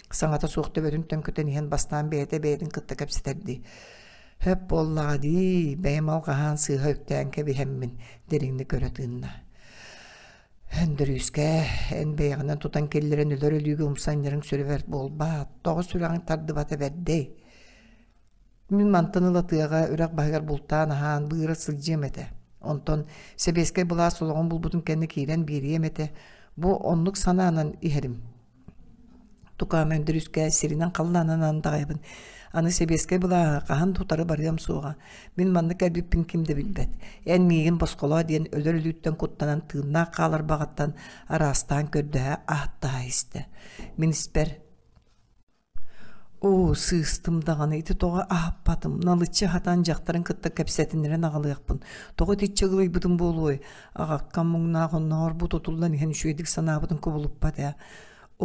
саҥата суох төбөтүнтэн көтөн иһэн бастаан бэйэтэ бэйэтин кытта кэпсэтэрдии «Хөп буоллаҕа дии, бэйэм ол хаһаан сыыһа үктээн кэбиһэммин» дириҥник көрө тыынна. Өндөрүүскэ эн бэйэҕинэн тутан киллэрэн өлөр өлүүгү умсанньарыҥ сүрүбэрт буолбаат, тоҕо сүрэҕиҥ тардыбата бэрдэй. Мин мантан ыла тыаҕа үрэх баһыгар бултаан аһаан быыра сылдьыам этэ. Онтон сэбиэскэй былаас олоҕун булбутун кэннэ киирэн биэриэм этэ. Бу оннук санаанан иһэрим. Тукаам Өндөрүүскэ сиринэн халлаанынан андаҕайабын. Аны сэбиэскэй былааһы хаһан да утары барыам суоҕа. Мин манна кэлбиппин ким да билбэт. Эн миигин босхолоо диэн өлөр өлүүттэн куттанан тыыннаах хаалар баҕаттан араастаан көрдөһө, ааттаһа истэ. Мин испэр: оо сыыстым даҕаны ити тоҕо аһаппатым налыччы аһатан дьахтарын кытта кэпсэтинэрэн аҕалыахпын тоҕо итиччэ ыгылыйбытым буолуой аҕаккам муҥнаах оннооҕор бу тутуллан иһэн үчүгэйдик санаабытын кубулуппат ээ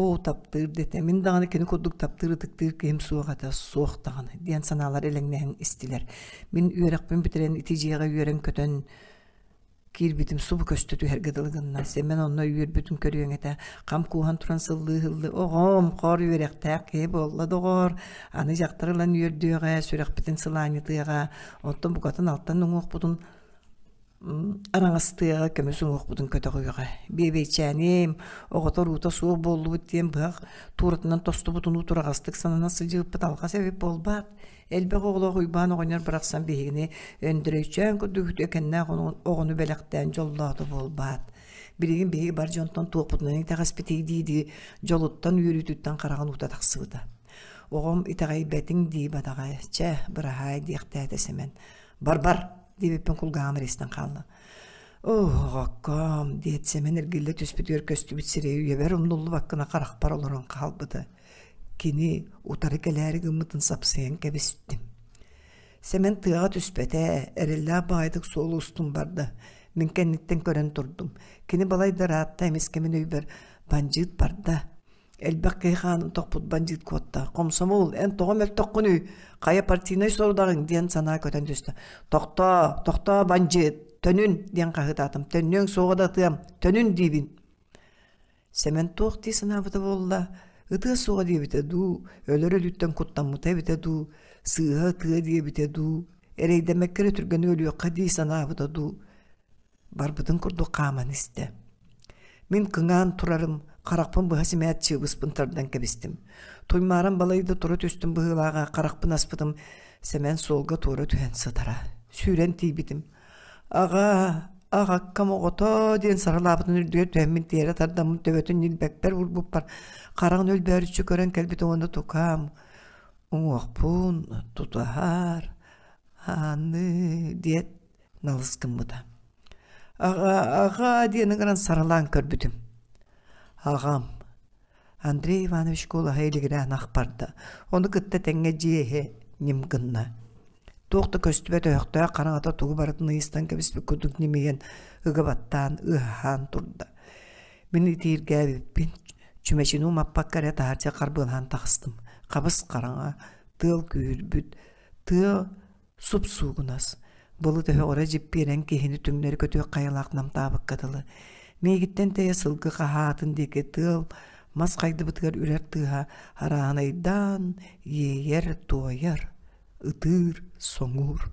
оо таптыыр дэтэ мин даҕаны кини курдук таптыыр ытыктыыр киһим суох этэ суох даҕаны диэн санаалар элэҥнэһэн истилэр мин үөрэхпин бүтэрэн ити дьиэҕэ үөрэн-көтөн киирбитим субу көстө түһэргэ дылы гынна сэмэн онно үөрбүтүн көрүөҥ этэ хам кууһан туран сыллыы-сыллыы оҕом хор үөрэхтээх киһи буолла доҕоор аны дьахтар ылан үөрдүөҕэ сүрэхпитин сылаанньытыаҕа оттон букатын алтан уҥуохпутун араҥастыаҕа көмүс уҥуохпутун көтөҕүөҕэ биэбэйчээним оҕотор уута суох буоллубут диэн быһах тууратынан тостубут унуу тураҕастык санана сылдьыбыппыт алҕас эбит буолбаат Элбэх оҕолоох Уйбаан оҕонньор барахсан биһигини Өндөрөйчөөн курдук үтүөкэннээх оҕону бэлэхтээн дьоллоото буолбаат. Билигин биһиги бар дьонтон туохпутунан итэҕэспитий дии-дии дьолуттан үөрүүтүттэн хараҕын уута тахсыбыта. Оҕом итэҕэйбэтиҥ дии батаҕай, чэ, быраһаай диэхтээтэ Сэмэн. Бар-бар диэбиппин кулгааҕым рестэн хаалла. Оо, диэт Сэмэн эргиллэ түспүтүгэр көстүбүт сирэй үйэбэр умнуллубаккына харахпар олорон хаалбыта. Кини утары кэлээри гыммытын сапсыйан кэбистим. Сэмэн тыаҕа түспэтэ, эрэллээх баҕайытык суолу устум барда. Мин кэнниттэн көрөн турдум. Кини балайда ыраатта эмискэ мин өйбөр бандьыыт барда. Элбэх киһи хаанын тохпут бандьыыт куотта. Хомсомол, эн тоҕо мөлтөххүнүй? Хайа партийнай сорудаҕыҥ? диэн санаа көтөн түстэ. Тохтоо, тохтоо, бандьыыт, төнүн, диэн хаһыытаатым. Төннүөҥ суоҕа да атыам, төнүн диибин. Сэмэн туох дии санаабыта буолла, ытыа суоҕа диэбитэ дуу, өлөр өлүттэн куттаммыта эбитэ дуу, сыыһа ытыа диэбитэ дуу, эрэйдэммэккэ эрэ түргэнэ өлүөххэ дии санаабыта дуу, барбытын курдук хааман истэ. Мин кыҥаан турарым, харахпын быһа симээт чыыбыспын тардан кэбистим. Туймаарам балайда тура түстүм быһыылааҕа харахпын аспытым, Сэмэн суолга туора түһэн сытара. Сүүрэн тиийбитим. аҕа аҕаккам оҕото диэн саралаабытын үрдүгэр түһэммин тиэрэ тардаммын төбөтүн ньилбэкпэр урбуппар хараҕын өлбөөрүччү көрөн кэлбит уонна тукаам уҥуохпун тутуһар аанныы диэт налыс гыммыта аҕа аҕаа диэн ыҥыран саралаан көрбүтүм аҕам Андрей Иванович куолаһа илигирээн ахпарда. Ону кытта тэҥҥэ дьиэһэ ньим гынна. Туох да көстүбэт өһөхтөөх хараҥата тугу барытын ыйыстан кэбиспит курдук ньимийэн ыга баттаан, ыаһаан турда. Мин итииргээбиппин чүмэчини умаппакка эрэ таһырдьа харбыылаһан тахыстым. Хабыс хараҥа, тыал күүһүрбүт, тыа Суп-суугунас. Булу төһө оре дьиппиэрэн киһини түҥнэри көтүөх хайалаах намтаабыкка дылы. Миигиттэн тэйэ сылгы хаһаатын диэки тыал, мас хайдыбытыгар үрэр тыаһа арааһынайдаан иэйэр, туойар, ытыыр, соҥуур.